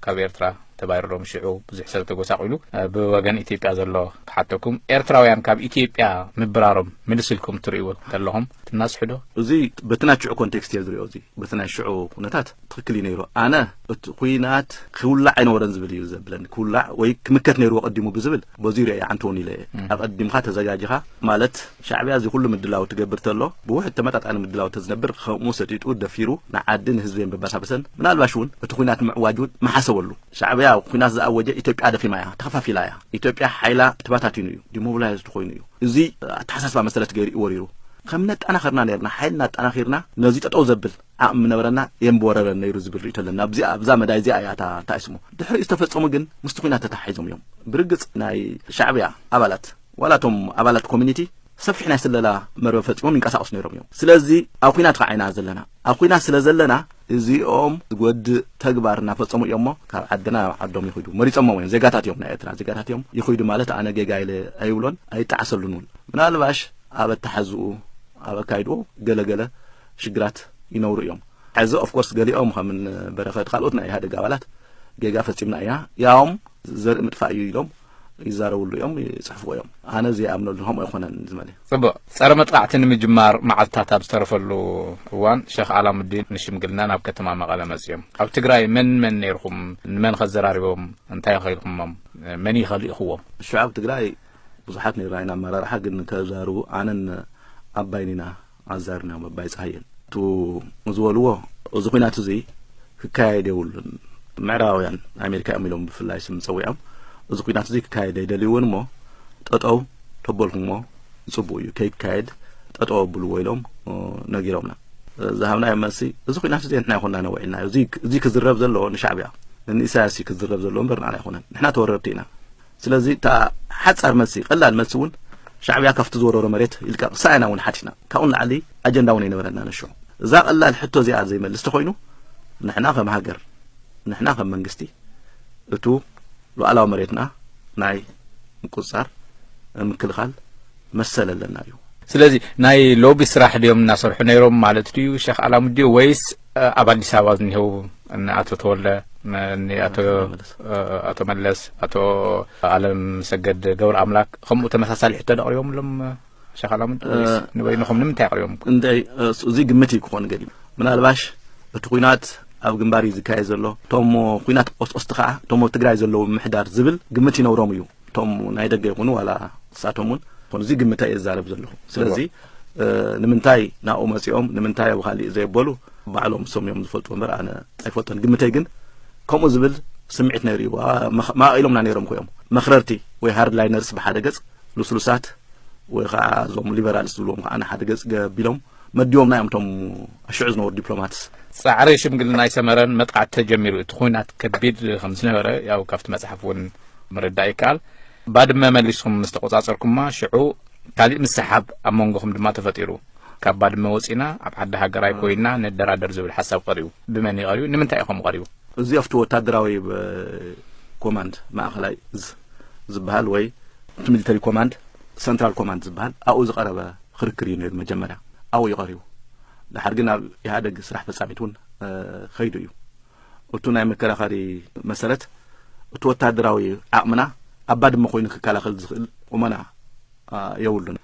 ካብ ኤርትራ ተባሪሮም ሽዑ ብዙሕ ሰብ ተጎሳቒሉ። ብወገን ኢትዮጵያ ዘሎ ክሓተኩም፣ ኤርትራውያን ካብ ኢትዮጵያ ምብራሮም ምልስ ኢልኩም ትርእይዎ እንተለኹም ትናስሑዶ? እዚ በቲ ናይ ሽዑ ኮንቴክስት እየ ዝሪኦ። እዚ በቲ ናይ ሽዑ ኩነታት ትኽክል እዩ ነይሩ። ኣነ እቲ ኩናት ክውላዕ ኣይነበረን ዝብል እዩ ዘብለኒ። ክውላዕ ወይ ክምከት ነይርዎ ቀዲሙ ብዝብል በዙይ ሪኦ ይዓንተውን ኢለ እየ። ኣቐዲምካ ተዘጋጅኻ ማለት ሻዕብያ እዚ ኩሉ ምድላው ትገብር ተሎ ብውሕድ ተመጣጣኒ ምድላው ተዝነብር ኸምኡ ሰጢጡ ደፊሩ ንዓዲ ንህዝቢ ምበሳበሰን ምናልባሽ ውን እቲ ኹናት ንምዕዋጅ ውን ምሓሰበሉ ሻዕብያ ኹናት ዝኣወጀ ኢትዮጵያ ደኺማ እያ ተኸፋፊላ እያ ኢትዮጵያ ሓይላ ተባታቲኑ እዩ ዲሞብላይዝድ ኾይኑ እዩ እዚ ኣተሓሳስባ መሰረት ገይሩ እዩ ወሪሩ ከም ነጣናኸርና ነርና ሓይልና ኣጣናኺርና ነዚ ጠጠው ዘብል ዓቕሚ ምነበረና እየ ምበወረረን ነይሩ ዝብል ርእይቶ ኣለና ኣብዚኣ ኣብዛ መዳይ እዚኣ እያ እታ እንታይ ስሙ ድሕሪኡ ዝተፈጸሙ ግን ምስቲ ኹናት ተተሓሒዞም እዮም ብርግጽ ናይ ሻዕብያ ኣባላት ዋላ እቶም ኣባላት ኮሚኒቲ ሰፊሕ ናይ ስለላ መርበብ ፈጢሮም ይንቀሳቐሱ ነይሮም እዮም። ስለዚ ኣብ ኹናት ኸዓ ኢና ዘለና። ኣብ ኹናት ስለ ዘለና እዚኦም ዝጎድእ ተግባር እናፈፀሙ እዮም እሞ ካብ ዓድና ናብ ዓዶም ይኹዱ መሪፀሞም እዮም ዜጋታት እዮም ናይ ኤርትራ ዜጋታት እዮም ይኹዱ ማለት ኣነ ጌጋ ኢለ ኣይብሎን ኣይጣዓሰሉን እውን ምናልባሽ ኣብ ኣተሓዝኡ ኣብ ኣካይድኡ ገለገለ ሽግራት ይነብሩ እዮም ሕዚ ኦፍ ኮርስ ገሊኦም ከም በረኸት ካልኦት ናይ ኢህኣደግ ኣባላት ጌጋ ፈፂምና ኢና ያውም ዘርኢ ምጥፋእ እዩ ኢሎም ይዛረብሉ እዮም ይጽሕፍዎ እዮም ኣነ ዘይኣምነሉ ከምኡ ኣይኮነን ዝመለ ጽቡቅ ጸረ መጥቃዕቲ ንምጅማር መዓልትታት ኣብ ዝተረፈሉ እዋን ሸኽ ኣላሙዲን ንሽምግልና ናብ ከተማ መቐለ መጽዮም ኣብ ትግራይ መን መን ነይርኹም ንመን ከዘራሪቦም እንታይ ኸኢልኩሞም መን ይኸልኢኹዎም ሽዑ ኣብ ትግራይ ብዙሓት ነይርና ኢና ኣመራርሓ ግን ከዛርቡ ኣነን ኣባይን ኢና ኣዛርን እዮም ኣባይ ጸሃየን እቱ ዝበልዎ እዚ ኩናት እዚ ክካየድ የብሉን ምዕራባውያን ኣሜሪካ እዮም ኢሎም ብፍላይ ስም ጸዊዖም እዚ ኩናት እዚ ክካየድ ኣይደልይውን እሞ ጠጠው ተበልኩሞ ዝጽቡቅ እዩ ከይካየድ ጠጠው ኣብልዎ ኢሎም ነጊሮምና ዝሃብናዮ መልሲ እዚ ኩናት እዚ ንሕና ይኮና ነውዒልናዮ እዚ ክዝረብ ዘለዎ ንሻዕብያ ንኢሳያስ ክዝረብ ዘለዎ እምበር ንዓና ኣይኮነን ንሕና ተወረርቲ ኢና ስለዚ እታ ሓጻር መልሲ ቀላል መልሲ እውን ሻዕብያ ካብቲ ዝወረሮ መሬት ይልቀቕ ሳያና እውን ሓቲትና ካብኡ ንላዕሊ ኣጀንዳ እውን ኣይነበረና ነሹ እዛ ቀላል ሕቶ እዚኣ ዘይመልስ ተኮይኑ ንሕና ከም ሃገር ንሕና ከም መንግስቲ እቱ ሉዓላዊ መሬትና ናይ ምቁፅፃር ምክልኻል መሰል ኣለና እዩ። ስለዚ ናይ ሎቢ ስራሕ ድዮም እናሰርሑ ነይሮም ማለት ድዩ ሸኽ ኣላሙዲ ወይስ ኣብ ኣዲስ ኣበባ ዝኒሄው ንኣቶ ተወልደ ንኣቶ መለስ ኣቶ ኣለም ሰገድ ገብረ ኣምላክ ከምኡ ተመሳሳሊ ሕቶ ደቕሪቦምሎም ሸኽ ኣላሙዲ ወይስ ንበይንኹም ንምንታይ ኣቕሪቦም እንታይ እዚ ግምት እዩ ክኾን ገሊ ምናልባሽ እቲ ኩናት ኣብ ግንባር እዩ ዝካየድ ዘሎ እቶሞ ኩናት ቆስቆስቲ ከዓ እቶሞ ትግራይ ዘለዉ ምሕዳር ዝብል ግምት ይነብሮም እዩ እቶም ናይ ደገ ይኹኑ ዋላ ንሳቶም እውን ኮኑ እዚ ግምታይ እየ ዝዛረብ ዘለኹ ስለዚ ንምንታይ ናብኡ መፂኦም ንምንታይ ኣብ ካሊእ ዘየበሉ ባዕሎም እሶም እዮም ዝፈልጡ እምበር ኣነ ኣይፈልጦን ግምተይ ግን ከምኡ ዝብል ስምዒት ነይሩ እዩ ማኢሎምና ነይሮም ኮይኦም መክረርቲ ወይ ሃርድ ላይነርስ ብሓደ ገፅ ልስሉሳት ወይ ከዓ እዞም ሊበራልስ ዝብልዎም ከዓ ንሓደ ገፅ ገቢሎም መዲቦምና እዮም እቶም ኣሽዑ ዝነበሩ ዲፕሎማትስ ጻዕሪ ሽምግልና ኣይሰመረን መጥቃዕቲ ተጀሚሩ እቲ ኩናት ከቢድ ከም ዝነበረ ያው ካብቲ መጽሓፍ እውን ምርዳእ ይከኣል ባድመ መሊስኩም ምስ ተቆጻጸርኩማ ሽዑ ካሊእ ምስሓብ ኣብ መንጎኹም ድማ ተፈጢሩ ካብ ባድመ ወፂና ኣብ ዓዲ ሃገራይ ኮይና ንደራደር ዝብል ሓሳብ ቀሪቡ ብመን እዩ ቀሪቡ ንምንታይ እዩ ከምኡ ቀሪቡ እዚ ኣብቲ ወታደራዊ ኮማንድ ማእኸላይ ዝበሃል ወይ እቲ ሚሊተሪ ኮማንድ ሰንትራል ኮማንድ ዝበሃል ኣብኡ ዝቀረበ ኽርክር እዩ ነይሩ መጀመርያ ኣብኡ እዩ ቀሪቡ ደሓር ግን ኣብ ኢህኣደግ ስራሕ ፈጻሚት እውን ኸይዱ እዩ እቱ ናይ መከራኸሪ መሰረት እቱ ወታደራዊ ዓቕምና ኣብ ባድመ ኮይኑ ክከላኸል ዝኽእል ቁመና የብሉን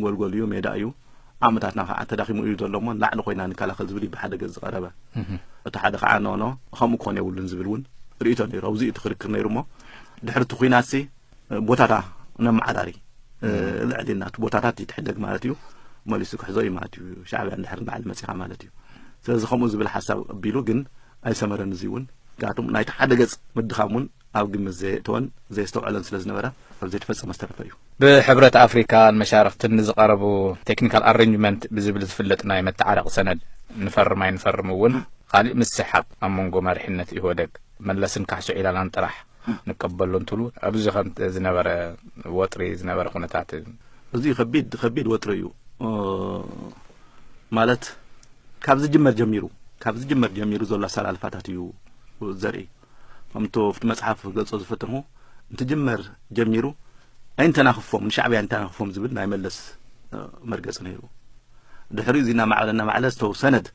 ጎልጎል እዩ ሜዳ እዩ ዓቕምታትና ከዓ ተዳኺሙ እዩ ዘሎ እሞ ላዕሊ ኮይና ንከላኸል ዝብል እዩ ብሓደ ገፅ ዝቐረበ እቲ ሓደ ከዓ ኖኖ ከምኡ ክኾን የብሉን ዝብል እውን ርእቶ ነይሩ ኣብዚ እቲ ክርክር ነይሩ እሞ ድሕሪ እቲ ኩናት ቦታታ ነመዓራሪ ልዕሊ ናቱ ቦታታት ይትሕደግ ማለት እዩ መሊሱ ክሕዞ እዩ ማለት እዩ ሻዕብያ እንድሕር ንዓሊ መፂኻ ማለት እዩ ስለዚ ከምኡ ዝብል ሓሳብ ኣቢሉ ግን ኣይሰመረን እዚ እውን ምክንያቱም ናይቲ ሓደ ገፅ ምድኻም እውን ኣብ ግምት ዘየእተወን ዘየስተውዐለን ስለ ዝነበረ ኣብ ዘይተፈፀመ ዝተረፈ እዩ ብሕብረት ኣፍሪካን መሻርክትን ንዝቐረቡ ቴክኒካል ኣረንጅመንት ብዝብል ዝፍለጥ ናይ መተዓረቂ ሰነድ ንፈርም ኣይንፈርም እውን ካሊእ ምስሕሓብ ኣብ መንጎ መሪሕነት ኢህወደግ መለስን ካሕሶ ዒላላን ጥራሕ ንቀበሎ እንትሉ ኣብዚ ከም ዝነበረ ወጥሪ ዝነበረ ኩነታት እዚ ከቢድ ከቢድ ወጥሪ እዩ ማለት ካብ ዝጅመር ጀሚሩ ካብ ዝጅመር ጀሚሩ ዘሎ ኣሰላልፋታት እዩ ዘርኢ ከምቶ ኣብቲ መፅሓፍ ገልፆ ዝፈተንዎ እንትጅመር ጀሚሩ ኣይንተናኽፎም ንሻዕብያ ኣይንተናኽፎም ዝብል ናይ መለስ መርገፂ ነይሩ ድሕሪ እዚ እናማዕበለ እናማዕበለ ዝተው ሰነድ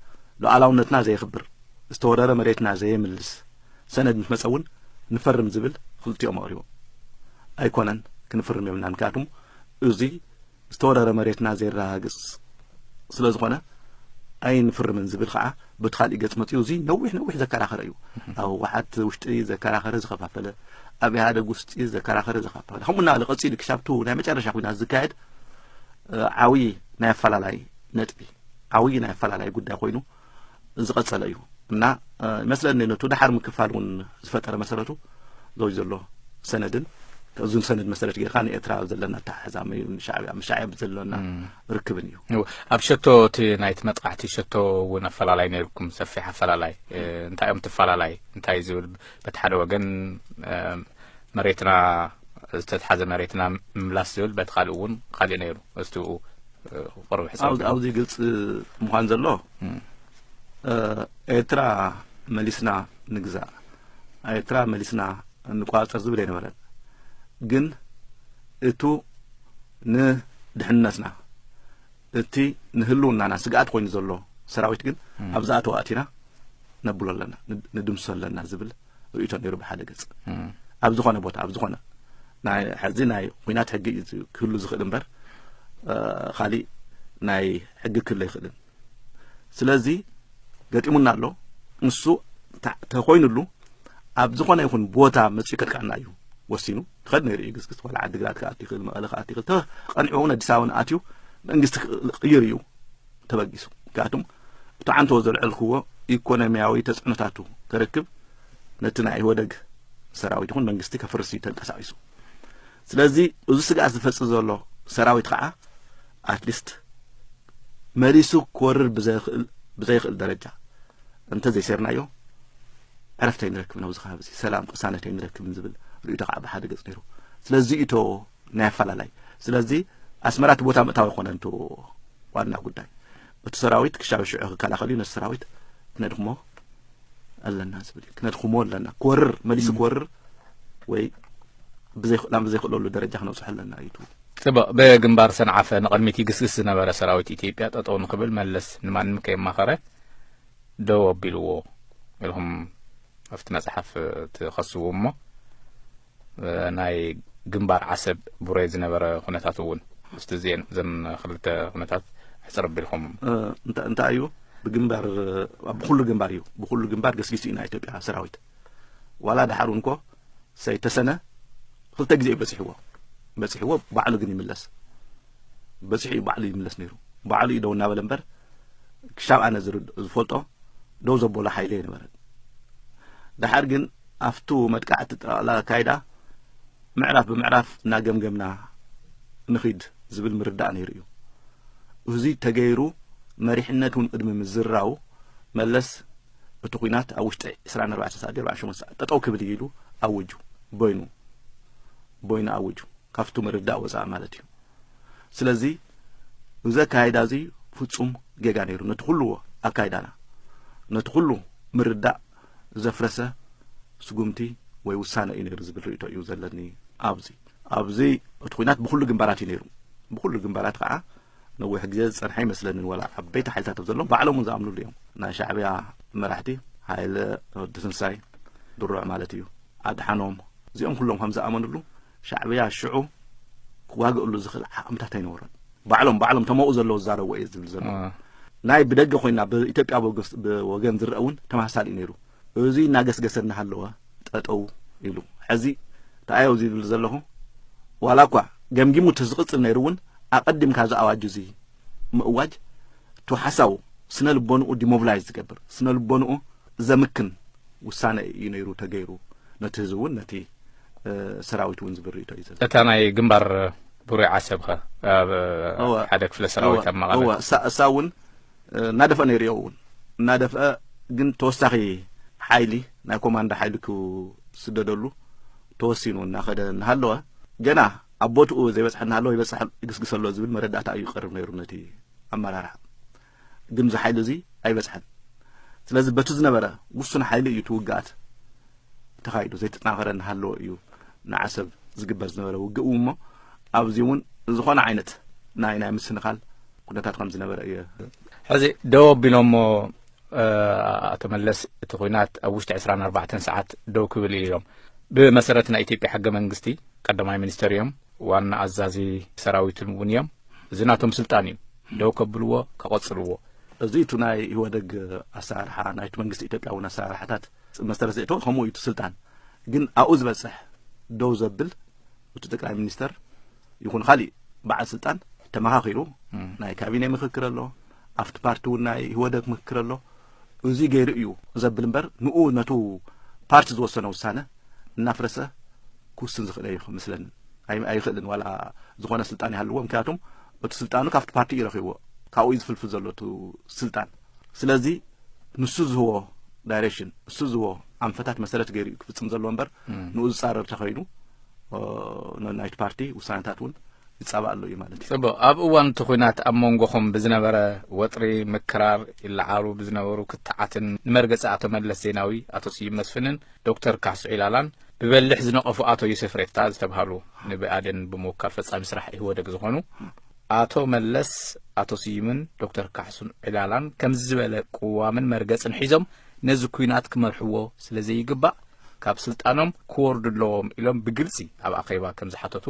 ሉዓላውነትና ዘየኽብር ዝተወረረ መሬትና ዘየምልስ ሰነድ ምስ መጸ እውን ንፈርም ዝብል ክልቲኦም ኣቕሪቦም ኣይኮነን ክንፍርም የብልና ምክንያቱም እዙይ ዝተወረረ መሬትና ዘየረጋግጽ ስለ ዝኾነ ኣይንፍርምን ዝብል ከዓ በቲ ካሊእ ገፅ መፅኡ እዚ ነዊሕ ነዊሕ ዘከራኸረ እዩ ኣብ ህወሓት ውሽጢ ዘከራኸረ ዝኸፋፈለ ኣብ ኢህኣደግ ውስጢ ዘከራኸረ ዘኸፋፈለ ከምኡ እናበለ ቀፂሉ ክሻብቱ ናይ መጨረሻ ኩናት ዝካየድ ዓብዪ ናይ ኣፈላላይ ነጥቢ ዓብዪ ናይ ኣፈላላይ ጉዳይ ኮይኑ ዝቐጸለ እዩ እና ይመስለኒ ነቱ ድሓር ምክፋል እውን ዝፈጠረ መሰረቱ ዘው ዘሎ ሰነድን እዚ ሰነድ መሰረት ጌርካ ንኤርትራ ዘለና ኣተሓሕዛ ሻዕብያ ምስ ሻዕብያ ብዘለና ርክብን እዩ ኣብ ሸቶ እቲ ናይቲ መጥቃዕቲ ሸቶ እውን ኣፈላላይ ነይርኩም ሰፊሕ ኣፈላላይ እንታይ እዮም ትፈላላይ እንታይ ዝብል በቲ ሓደ ወገን መሬትና ዝተትሓዘ መሬትና ምምላስ ዝብል በቲ ካልእ እውን ካሊእ ነይሩ እስትኡ ክቐርብ ሕሳብ ኣብዚ ግልፂ ምዃን ዘሎ ኤርትራ መሊስና ንግዛእ ኤርትራ መሊስና እንቋፀር ዝብል ኣይነበረን ግን እቱ ንድሕነትና እቲ ንህልውናና ስግኣት ኮይኑ ዘሎ ሰራዊት ግን ኣብዛ ኣተዋእቲና ነብሎ ኣለና ንድምሶ ኣለና ዝብል ርእቶ ነይሩ ብሓደ ገጽ ኣብ ዝኾነ ቦታ ኣብ ዝኾነ ሕዚ ናይ ኩናት ሕጊ እዩ ክህሉ ዝኽእል እምበር ካሊእ ናይ ሕጊ ክህሉ ኣይኽእልን ስለዚ ገጢሙና ኣሎ ንሱ ተኮይኑሉ ኣብ ዝኾነ ይኹን ቦታ መፅኡ ከጥቃዕና እዩ ወሲኑ ክኸድ ነይሩ እዩ ግስግስ ዋላ ዓዲግራት ክኣት ይኽእል መቐለ ክኣት ይኽእል ተቐኒዑ እውን ኣዲስ ኣበባ ኣትዩ መንግስቲ ክቕይር እዩ ተበጊሱ ምክንያቱም እቲ ዓንተዎ ዘልዐልክዎ ኢኮኖሚያዊ ተፅዕኖታቱ ከርክብ ነቲ ናይ ኢህወደግ ሰራዊት ይኹን መንግስቲ ከፍርስ እዩ ተንቀሳቂሱ ስለዚ እዚ ስግኣት ዝፈፅእ ዘሎ ሰራዊት ከዓ ኣትሊስት መሊሱ ክወርር ብዘይኽእል ደረጃ እንተ ዘይሰርናዮ ዕረፍተይ ንረክብን ኣብዚ ከባቢ ሰላም ቅሳነተይ ንረክብን ዝብል ርእይቶ ከዓ ብሓደ ገፅ ነይሩ ስለዚ እዩ ናይ ኣፈላላይ ስለዚ ኣስመራ እቲ ቦታ ምእታዊ ኮነ እንት ዋና ጉዳይ እቲ ሰራዊት ክሻብ ሽዑ ክከላኸል እዩ ነቲ ሰራዊት ክነድክሞ ኣለና ዝብል እዩ ክነድክሞ ኣለና ክወርር መሊሱ ክወርር ወይ ብዘይክእላም ብዘይክእለሉ ደረጃ ክነብፅሖ ኣለና እዩ ጽቡቕ ብግንባር ሰንዓፈ ንቕድሚት ይግስግስ ዝነበረ ሰራዊት ኢትዮጵያ ጠጠው ንክብል መለስ ንማንም ከየማኸረ ደው ኣቢልዎ ኢልኩም ኣብቲ መጽሓፍ ትኸስቡ እሞ ናይ ግንባር ዓሰብ ቡሬ ዝነበረ ኩነታት እውን ምስቲ ዜን ዘን ክልተ ኩነታት ሕፅር ኣቢልኩም እንታይ እዩ ብግንባር ብኩሉ ግንባር እዩ ብኩሉ ግንባር ገስጊሱ ኢና ኢትዮጵያ ሰራዊት ዋላ ድሓር እንኮ ሰይተሰነ ክልተ ግዜ እዩ በፂሕዎ በፂሕዎ ባዕሉ ግን ይምለስ በፂሑ እዩ ባዕሉ ይምለስ ነይሩ ባዕሉ እዩ ደው እናበለ እምበር ክሻብ ኣነ ዝፈልጦ ደው ዘበሎ ሓይሊ ኣይነበረን ድሓር ግን ኣብቱ መጥቃዕቲ ጠቕላላ ኣካይዳ ምዕራፍ ብምዕራፍ እናገምገምና ንኺድ ዝብል ምርዳእ ነይሩ እዩ እዚ ተገይሩ መሪሕነት እውን ቅድሚ ምዝራው መለስ እቲ ኩናት ኣብ ውሽጢ 24 ሰዓት 48 ሰዓት ጠጠው ክብል እዩ ኢሉ ኣውጁ ቦይኑ ቦይኑ ኣውጁ ካብቱ ምርዳእ ወፃኢ ማለት እዩ ስለዚ እዚ ኣካይዳ እዚ ፍፁም ጌጋ ነይሩ ነቲ ኩሉ ኣካይዳና ነቲ ኩሉ ምርዳእ ዘፍረሰ ስጉምቲ ወይ ውሳነ እዩ ነይሩ ዝብል ርእቶ እዩ ዘለኒ ኣብዚ ኣብዚ እቲ ኩናት ብኩሉ ግንባራት እዩ ነይሩ ብኩሉ ግንባራት ከዓ ነዊሕ ግዜ ዝፀንሐ ይመስለንን ወላ ዓበይቲ ሓይልታት ኣብ ዘለዎም ባዕሎም እውን ዝኣምንሉ እዮም ናይ ሻዕብያ መራሕቲ ሃይለ ወዲ ትንሳይ ድሩዕ ማለት እዩ ኣድሓኖም እዚኦም ኩሎም ከም ዝኣመንሉ ሻዕብያ ሽዑ ክዋግእሉ ዝኽእል ዓቕምታት ኣይነበሮን ባዕሎም ባዕሎም ተመኡ ዘለዎ ዝዛረብዎ እየ ዝብል ዘሎ ናይ ብደገ ኮይና ብኢትዮጵያ ወገን ዝረአ እውን ተመሳሳሊ እዩ ነይሩ እዚ እናገስገሰ እናሃለወ ጠጠው ኢሉ ሕዚ ተኣዮ እዚ ይብል ዘለኹ ዋላ እኳ ገምጊሙ እቲ ዝቕፅል ነይሩ እውን ኣቐዲምካ እዚ ኣዋጅ እዚ ምእዋጅ እቲ ሓሳቡ ስነ ልቦንኡ ዲሞብላይዝ ዝገብር ስነ ልቦንኡ ዘምክን ውሳነ እዩ ነይሩ ተገይሩ ነቲ ህዝቢ እውን ነቲ ሰራዊት እውን ዝብል ርእቶ እዩ ዘሎ እታ ናይ ግንባር ብሩይ ዓሰብ ኸ ሓደ ክፍለ ሰራዊት ኣብ መቐለ እሳ እውን እናደፍአ ነይሩ እዮ እውን እናደፍአ ግን ተወሳኺ ሓይሊ ናይ ኮማንዶ ሓይሊ ክስደደሉ ተወሲኑ እናኸደ እናሃለወ ገና ኣብ ቦትኡ ዘይበፅሐ እናሃለወ ይበፅሐ ይግስግሰ ኣሎ ዝብል መረዳእታ እዩ ቀርብ ነይሩ ነቲ ኣመራርሓ ግን እዚ ሓይሊ እዚ ኣይበጽሐን። ስለዚ በቲ ዝነበረ ውሱን ሓይሊ እዩ እቲ ውግኣት ተኻይዱ ዘይተጠናኸረ እናሃለወ እዩ ንዓሰብ ዝግበር ዝነበረ ውግእ እውን እሞ ኣብዚ እውን ዝኾነ ዓይነት ናይ ናይ ምስንኻል ኩነታት ከም ዝነበረ እዩ ሕዚ ደው ኣቢሎሞ ኣቶ መለስ እቲ ኩናት ኣብ ውሽጢ 24 ሰዓት ደው ክብል ኢሎም ብመሰረት ናይ ኢትዮጵያ ሕገ መንግስቲ ቀዳማይ ሚኒስተር እዮም ዋና ኣዛዚ ሰራዊትን እውን እዮም እዚ ናቶም ስልጣን እዩ ደው ከብልዎ ከቐፅልዎ እዚ እቲ ናይ ኢህወደግ ኣሰራርሓ ናይቲ መንግስቲ ኢትዮጵያ እውን ኣሰራርሓታት መሰረት ዘእተወ ከምኡ እዩ እቲ ስልጣን ግን ኣብኡ ዝበፅሕ ደው ዘብል እቲ ጠቅላይ ሚኒስተር ይኹን ካሊእ በዓል ስልጣን ተመኻኺሩ ናይ ካቢኔ ምክክር ኣሎ ኣብቲ ፓርቲ እውን ናይ ኢህወደግ ምክክር ኣሎ እዙይ ገይሩ እዩ ዘብል እምበር ንኡ ነቱ ፓርቲ ዝወሰነ ውሳነ እናፍረሰ ክውስን ዝኽእል እዩ ምስለን ኣይኽእልን ዋላ ዝኾነ ስልጣን ይሃልዎ ምክንያቱም እቲ ስልጣኑ ካብቲ ፓርቲ እዩ ረኺብዎ ካብኡ እዩ ዝፍልፍል ዘሎ እቲ ስልጣን ስለዚ ንሱ ዝህቦ ዳይሬክሽን ንሱ ዝህቦ ኣንፈታት መሰረት ገይሩ እዩ ክፍፅም ዘለዎ እምበር ንኡ ዝፃረር ተኸይኑ ናይቲ ፓርቲ ውሳነታት እውን ይጻባእ ኣሎ እዩ ማለት እዩ። ጽቡቕ ኣብ እዋን እቲ ኹናት ኣብ መንጎኹም ብዝነበረ ወጥሪ ምክራር ይለዓሉ ብዝነበሩ ክትዓትን ንመርገጺ ኣቶ መለስ ዜናዊ ኣቶ ስዩም መስፍንን ዶክተር ካሕሱ ዒላላን ብበሊሕ ዝነቐፉ ኣቶ ዩሴፍ ሬታ ዝተብሃሉ ንብኣዴን ብምውካል ፈጻሚ ስራሕ ኢህወደግ ዝኾኑ ኣቶ መለስ ኣቶ ስዩምን ዶክተር ካሕሱን ዒላላን ከምዚ ዝበለ ቅዋምን መርገጽን ሒዞም ነዚ ኩናት ክመርሕዎ ስለ ዘይግባእ ካብ ስልጣኖም ክወርዱ ኣለዎም ኢሎም ብግልጺ ኣብ ኣኼባ ከም ዝሓተቱ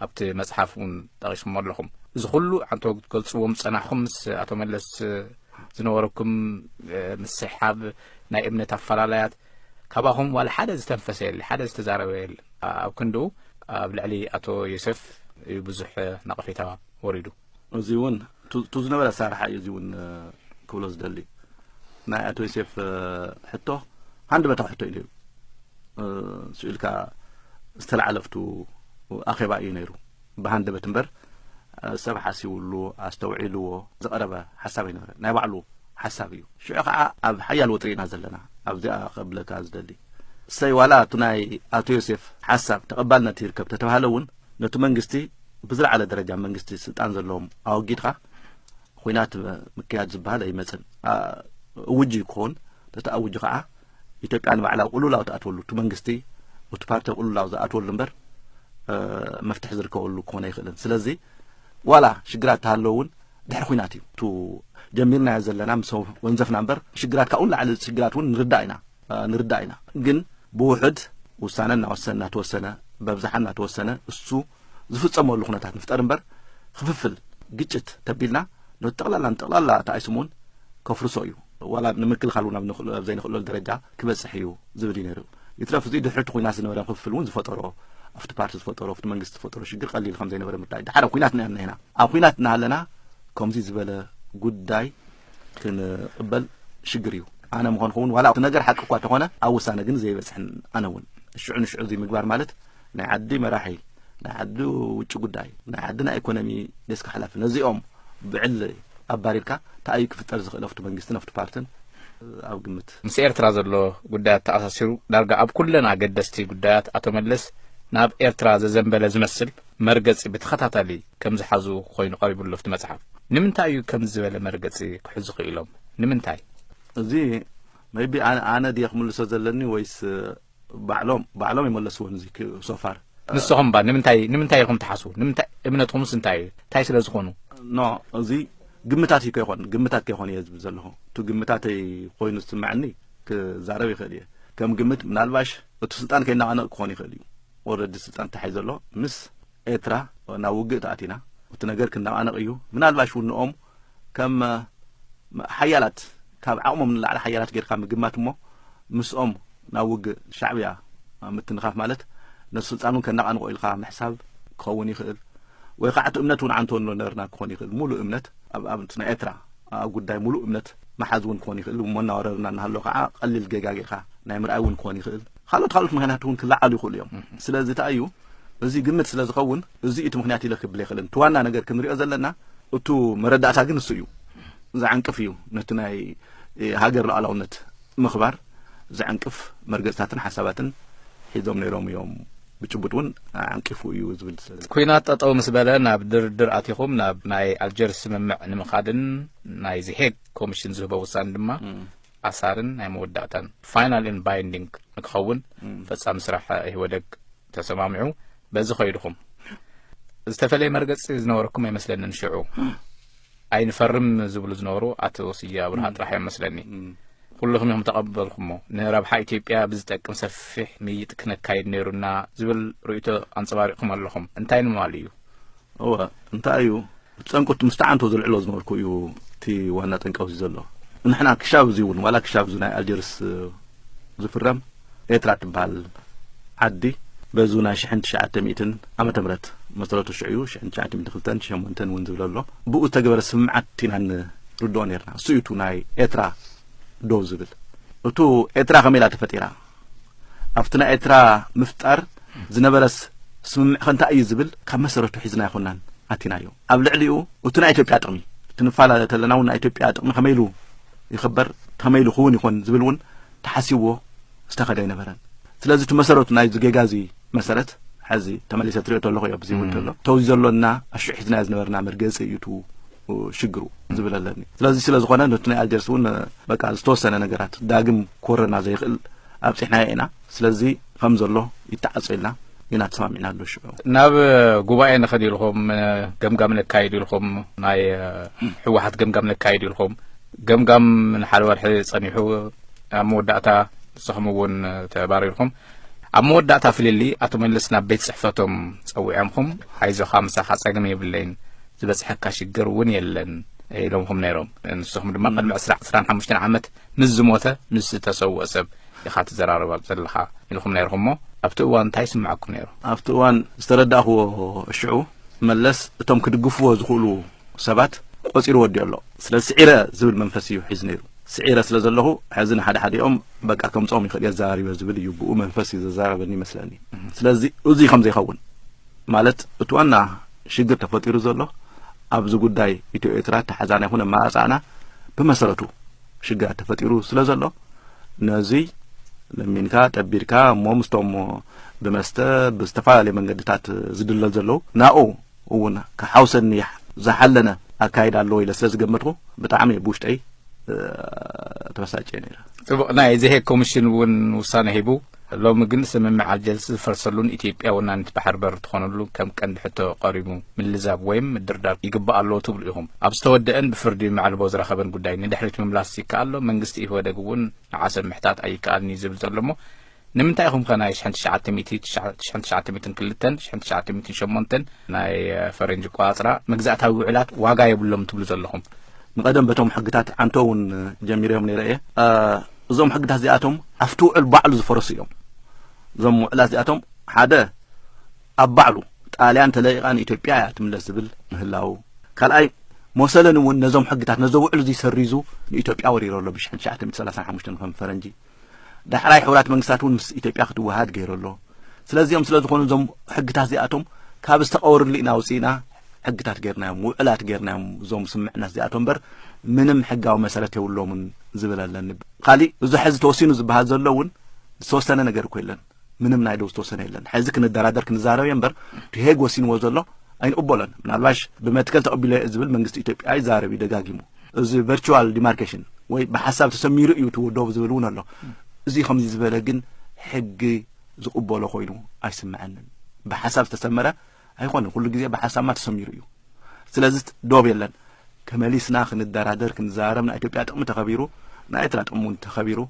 ኣብቲ መጽሓፍ እውን ጠቂስሞ ኣለኹም እዚ ኩሉ ዓንተው ክትገልጽዎም ዝጸናሕኹም ምስ ኣቶ መለስ ዝነበረኩም ምስሕሓብ ናይ እምነት ኣፈላላያት ካባኹም ዋላ ሓደ ዝተንፈሰ የለ ሓደ ዝተዛረበ የለ ኣብ ክንድኡ ኣብ ልዕሊ ኣቶ ዮሴፍ እዩ ብዙሕ ነቐፌታ ወሪዱ እዚ እውን እቱ ዝነበረ ኣሰራርሓ እዩ እዚ እውን ክብሎ ዝደሊ ናይ ኣቶ ዮሴፍ ሕቶ ሃንድ በታ ሕቶ እዩ ነይሩ ስኢልካ ዝተላዓለፍቱ ኣኼባ እዩ ነይሩ ብሃንደበት እምበር ሰብ ሓሲብሉ ኣስተውዒልዎ ዝቐረበ ሓሳብ ኣይነበረ ናይ ባዕሉ ሓሳብ እዩ ሽዑ ከዓ ኣብ ሓያል ወጥሪ ኢና ዘለና ኣብዚኣ ከብለካ ዝደሊ ሰይ ዋላ እቲ ናይ ኣቶ ዮሴፍ ሓሳብ ተቐባልነት ይርከብ ተተባሃለ እውን ነቲ መንግስቲ ብዝለዓለ ደረጃ መንግስቲ ስልጣን ዘለዎም ኣወጊድካ ኩናት ምክያድ ዝበሃል ኣይመፅን እውጅ እዩ ክኸውን ነቲ ኣውጅ ከዓ ኢትዮጵያ ንባዕላ ቁሉላው ትኣትወሉ እቲ መንግስቲ እቲ ፓርቲ ቁሉላው ዝኣትወሉ እምበር መፍትሒ ዝርከበሉ ክኾነ ኣይኽእልን ስለዚ ዋላ ሽግራት ተሃለዉ እውን ድሕሪ ኩናት እዩ ጀሚርናዮ ዘለና ምስ ወንዘፍና እምበር ሽግራት ካብኡ ንላዕሊ ሽግራት እውን ንርዳእ ኢና ንርዳእ ኢና ግን ብውሕድ ውሳነ እናወሰን እናተወሰነ በብዝሓ እናተወሰነ እሱ ዝፍፀመሉ ኩነታት ንፍጠር እምበር ክፍፍል ግጭት ተቢልና ነቲ ጠቕላላ ንጠቕላላ እቲ ኣይስሙን ከፍርሶ እዩ ዋላ ንምክልኻል እውን ኣብ ዘይንኽእለሉ ደረጃ ክበፅሕ እዩ ዝብል እዩ ነይሩ ይትረፍ እዚ ድሕሪ እቲ ኩናት ዝነበረ ክፍፍል እውን ዝፈጠሮ ኣብቲ ፓርቲ ዝፈጠሮ ኣብቲ መንግስቲ ዝፈጠሮ ሽግር ቀሊል ከም ዘይነበረ ምርዳእ ድሓር ኣብ ኩናት ነና ኢና ኣብ ኩናት እናሃለና ከምዚ ዝበለ ጉዳይ ክንቕበል ሽግር እዩ ኣነ ምኾንኩ እውን ዋላ እቲ ነገር ሓቂ እኳ ተኾነ ኣብ ውሳነ ግን ዘይበፅሕን ኣነ እውን ሽዑ ንሽዑ እዚ ምግባር ማለት ናይ ዓዲ መራሒ ናይ ዓዲ ውጭ ጉዳይ ናይ ዓዲ ናይ ኢኮኖሚ ደስካ ሓላፊ ነዚኦም ብዕሊ ኣባሪርካ ተኣዩ ክፍጠር ዝኽእል ኣብቲ መንግስትን ኣብቲ ፓርትን ኣብ ግምት ምስ ኤርትራ ዘሎ ጉዳያት ተኣሳሲሩ ዳርጋ ኣብ ኩለን ኣገደስቲ ጉዳያት ኣቶ መለስ ናብ ኤርትራ ዘዘንበለ ዝመስል መርገፂ ብተኸታታሊ ከም ዝሓዙ ኮይኑ ቀሪቡ ኣሎ ኣብቲ መጽሓፍ። ንምንታይ እዩ ከምዚ ዝበለ መርገጺ ክሕዙ ክኢሎም? ንምንታይ? እዚ ሜይቢ ኣነ ኣነ ድየ ክምልሶ ዘለኒ ወይስ ባዕሎም ባዕሎም ይመለስዎን እዚ ሶፋር ንስኹም እባ ንምንታይ ንምንታይ ኢኹም ትሓስቡ? ንምንታይ እምነትኩምስ እንታይ እዩ? እንታይ ስለ ዝኾኑ? ኖ እዚ ግምታት እዩ ከይኮን ግምታት ከይኮን እየ ዝብል ዘለኹ እቲ ግምታተይ ኮይኑ ዝስምዐኒ ክዛረብ ይኽእል እየ ከም ግምት ምናልባሽ እቲ ስልጣን ከይናቐነቕ ክኾን ይኽእል እዩ ኦልረዲ ስልጣን ተታሒዘ ኣሎ ምስ ኤርትራ ናብ ውግእ ተኣቲና እቲ ነገር ክነቓነቕ እዩ ምናልባሽ እውን ንኦም ከም ሓያላት ካብ ዓቕሞም ንላዕሊ ሓያላት ጌርካ ምግማት እሞ ምስኦም ናብ ውግእ ሻዕብያ ምትንኻፍ ማለት ነቲ ስልጣን እውን ከነቓንቖ ኢልካ ምሕሳብ ክኸውን ይኽእል ወይ ከዓ እቲ እምነት እውን ዓንቶ ነርና ክኾን ይኽእል ሙሉእ እምነት ኣብ ናይ ኤርትራ ኣብ ጉዳይ ሙሉእ እምነት መሓዝ እውን ክኾን ይኽእል እሞ እናወረርና እናሃሎ ከዓ ቀሊል ጌጋ ጌርካ ናይ ምርኣይ እውን ክኾን ይኽእል ካልኦት ካልኦት ምክንያት እውን ክለዓሉ ይኽእሉ እዮም ስለዚ እንታይ እዩ እዚ ግምት ስለ ዝኸውን እዙይ እቲ ምክንያት ኢለ ክብል ኣይክእልን። እቲ ዋና ነገር ክንሪኦ ዘለና እቱ መረዳእታ ግን እሱ እዩ ዝዕንቅፍ እዩ ነቲ ናይ ሃገር ሉዓላውነት ምኽባር ዝዕንቅፍ መርገፅታትን ሓሳባትን ሒዞም ነይሮም እዮም ብጭቡጥ እውን ዓንቂፉ እዩ ዝብል ኩናት ጠጠው ምስ በለ ናብ ድርድር ኣቲኹም ናብ ናይ ኣልጀርስ ስምምዕ ንምኻድን ናይ ዝሄግ ኮሚሽን ዝህቦ ውሳኔ ድማ ኣሳርን ናይ መወዳእታን ፋይናል ን ባይንዲንግ ንክኸውን ፈፃሚ ስራሕ ኢህወደግ ተሰማሚዑ በዚ ከይድኹም ዝተፈለየ መርገፂ ዝነበረኩም ኣይመስለንን ሽዑ ኣይንፈርም ዝብሉ ዝነበሩ ኣቶ ስየ ኣብርሃ ጥራሕ እዮም መስለኒ ኩልኹም እዮም ተቐበልኩሞ ንረብሓ ኢትዮጵያ ብዝጠቅም ሰፊሕ ምይጥ ክነካይድ ነይሩና ዝብል ርእቶ ኣንፀባሪቕኩም ኣለኹም እንታይ ንማሉ እዩ እወ እንታይ እዩ ጠንቁ እቲ ምስቲ ዓንቶ ዘልዕሎ ዝነበርኩ እዩ እቲ ዋና ጠንቂ ኣብዚ ዘሎ ንሕና ክሻብ እዚ እውን ዋላ ክሻብ እዚ ናይ ኣልጀርስ ዝፍረም ኤርትራ ትበሃል ዓዲ በዚ ናይ ሽሕን ትሽዓተ ሚእትን ዓመተ ምህረት መሰረቱ ሽዑ እዩ ሽሕን ትሽዓተ ሚእቲ ክልተን ሸሞንተን እውን ዝብለ ኣሎ ብኡ ዝተገበረ ስምምዓት ኢና ንርድኦ ነርና እሱ እዩ እቲ ናይ ኤርትራ ደው ዝብል እቱ ኤርትራ ከመይ ኢላ ተፈጢራ ኣብቲ ናይ ኤርትራ ምፍጣር ዝነበረስ ስምምዕ ከ እንታይ እዩ ዝብል ካብ መሰረቱ ሒዝና ኣይኮናን ኣቲናዮ ኣብ ልዕሊኡ እቲ ናይ ኢትዮጵያ ጥቕሚ ክንፈላለ ተለና እውን ናይ ኢትዮጵያ ጥቕሚ ከመይ ኢሉ ይኽበር ከመይ ኢሉ ክውን ይኾን ዝብል እውን ተሓሲብዎ ዝተኸደ ኣይነበረን ስለዚ እቲ መሰረቱ ናይዚ ጌጋ እዚ መሰረት ሕዚ ተመሊሰ ትሪኦ ተለኹ እዮ ብዚ ውድሎ ተው ዘሎና ኣሽሒትና ዝነበርና መርገፂ እዩ ቱ ሽግሩ ዝብል ኣለኒ ስለዚ ስለ ዝኾነ ነቲ ናይ ኣልጀርስ እውን በቃ ዝተወሰነ ነገራት ዳግም ኮረና ዘይኽእል ኣብፂሕናዮ ኢና ስለዚ ከም ዘሎ ይተዓፀ ኢልና ኢና ተሰማሚዕና ኣሎ ሽዑ ናብ ጉባኤ ንኸድ ኢልኹም ገምጋም ነካይድ ኢልኹም ናይ ሕወሓት ገምጋም ነካይድ ኢልኹም ገምጋም ንሓደ ወርሒ ፀኒሑ ኣብ መወዳእታ ንስኹም እውን ተባሪርኩም ኣብ መወዳእታ ፍልልይ ኣቶ መለስ ናብ ቤት ጽሕፈቶም ጸዊዖምኹም ኣይዞኻ ምሳኻ ጸገም የብለይን ዝበጽሐካ ሽግር እውን የለን ኢሎምኹም ነይሮም ንስኹም ድማ ቅድሚ ዕስራ ዕስራን ሓሙሽተን ዓመት ምስ ዝሞተ ምስ ዝተሰውኦ ሰብ ኢኻ ትዘራረብ ኣብ ዘለኻ ኢልኹም ነይርኹም እሞ ኣብቲ እዋን እንታይ ይስምዐኩም ነይሩ ኣብቲ እዋን ዝተረዳእኽዎ ሽዑ መለስ እቶም ክድግፍዎ ዝኽእሉ ሰባት ቆጺሩ ወዲኡ ኣሎ ስለዚ ስዒረ ዝብል መንፈስ እዩ ሒዙ ነይሩ ስዒረ ስለ ዘለኹ ሕዚ ንሓደ ሓዲኦም በቃ ከምጾም ይኽእል የዘራሪበ ዝብል እዩ ብኡ መንፈስ እዩ ዘዘራረበኒ ይመስለኒ ስለዚ እዙይ ከም ዘይኸውን ማለት እቲ ዋና ሽግር ተፈጢሩ ዘሎ ኣብዚ ጉዳይ ኢትዮ ኤርትራ ተሓዛና ይኹን ኣመራርጻና ብመሰረቱ ሽግራት ተፈጢሩ ስለ ዘሎ ነዙይ ለሚንካ ጠቢርካ እሞ ምስቶም ብመስተ ብዝተፈላለዩ መንገድታት ዝድለል ዘለዉ ናኡ እውን ክሓውሰኒ ዝሓለነ ኣካይድ ኣለዎ ኢለ ስለ ዝገመትኩ ብጣዕሚ እየ ብውሽጠይ ተበሳጭ እየ ነረ ፅቡቅ ናይ ዘሄ ኮሚሽን እውን ውሳነ ሂቡ ሎሚ ግን ስምምዕ ኣልጀርስ ዝፈርሰሉን ኢትዮጵያ ወናኒት ባሕር በር ትኾነሉ ከም ቀንዲ ሕቶ ቀሪቡ ምልዛብ ወይም ምድርዳር ይግባእ ኣለዎ ትብሉ ኢኹም። ኣብ ዝተወደአን ብፍርዲ መዕልቦ ዝረኸበን ጉዳይ ንድሕሪት ምምላስ ይከኣል ዶ? መንግስቲ ኢህወደግ እውን ንዓሰብ ምሕታት ኣይከኣልን እዩ ዝብል ዘሎ እሞ ንምንታይ ኢኹም ከ ናይ ሽሕን ትሽዓተ ሚእቲ ሽሕን ትሽዓተ ሚእትን ክልተን ሽሕን ትሽዓተ ሚእትን ሸሞንተን ናይ ፈረንጂ ቆፃፅራ መግዛእታዊ ውዕላት ዋጋ የብሎም ትብሉ ዘለኹም? ንቐደም በቶም ሕግታት ኣንተ እውን ጀሚረዮም ነይረ እየ እዞም ሕግታት እዚኣቶም ኣብቲ ውዕል ባዕሉ ዝፈረሱ እዮም። እዞም ውዕላት እዚኣቶም ሓደ ኣብ ባዕሉ ጣልያን ተለቂቓ ንኢትዮጵያ እያ ትምለስ ዝብል ምህላው፣ ካልኣይ ሞሰለን እውን ነዞም ሕግታት ነዞ ውዕል እዙይ ሰሪዙ ንኢትዮጵያ ወሪሮ ኣሎ ብ1935 ከም ፈረንጂ ዳሕራይ ሕቡራት መንግስታት እውን ምስ ኢትዮጵያ ክትወሃድ ገይሩ ኣሎ። ስለዚኦም ስለ ዝኾኑ እዞም ሕግታት እዚኣቶም ካብ ዝተቐወርሉ ኢና ውፅኢና ሕግታት ጌርናዮም ውዕላት ጌርናዮም እዞም ስምምዕነት እዚኣቶም እምበር ምንም ሕጋዊ መሰረት የብሎምን ዝብል ኣለኒ ካሊእ እዚ ሕዚ ተወሲኑ ዝበሃል ዘሎ እውን ዝተወሰነ ነገር እኮ የለን ምንም ናይ ደው ዝተወሰነ የለን ሕዚ ክንደራደር ክንዛረብ እየ እምበር ሄግ ወሲንዎ ዘሎ ኣይንቕበሎን ምናልባሽ ብመትከል ተቐቢሎ እየ ዝብል መንግስቲ ኢትዮጵያ ይዛረብ እዩ ደጋጊሙ እዚ ቨርቹዋል ዲማርኬሽን ወይ ብሓሳብ ተሰሚሩ እዩ ትውደቡ ዝብል እውን ኣሎ እዚ ከምዚ ዝበለ ግን ሕጊ ዝቕበሎ ኮይኑ ኣይስምዐንን ብሓሳብ ዝተሰመረ ኣይኮነ ኩሉ ግዜ ብሓሳብና ተሰሚሩ እዩ ስለዚ ዶብ የለን ተመሊስና ክንደራደር ክንዘራረብ ናይ ኢትዮጵያ ጥቕሚ ተኸቢሩ ናይ ኤርትራ ጥቕሚ እውን ተኸቢሩ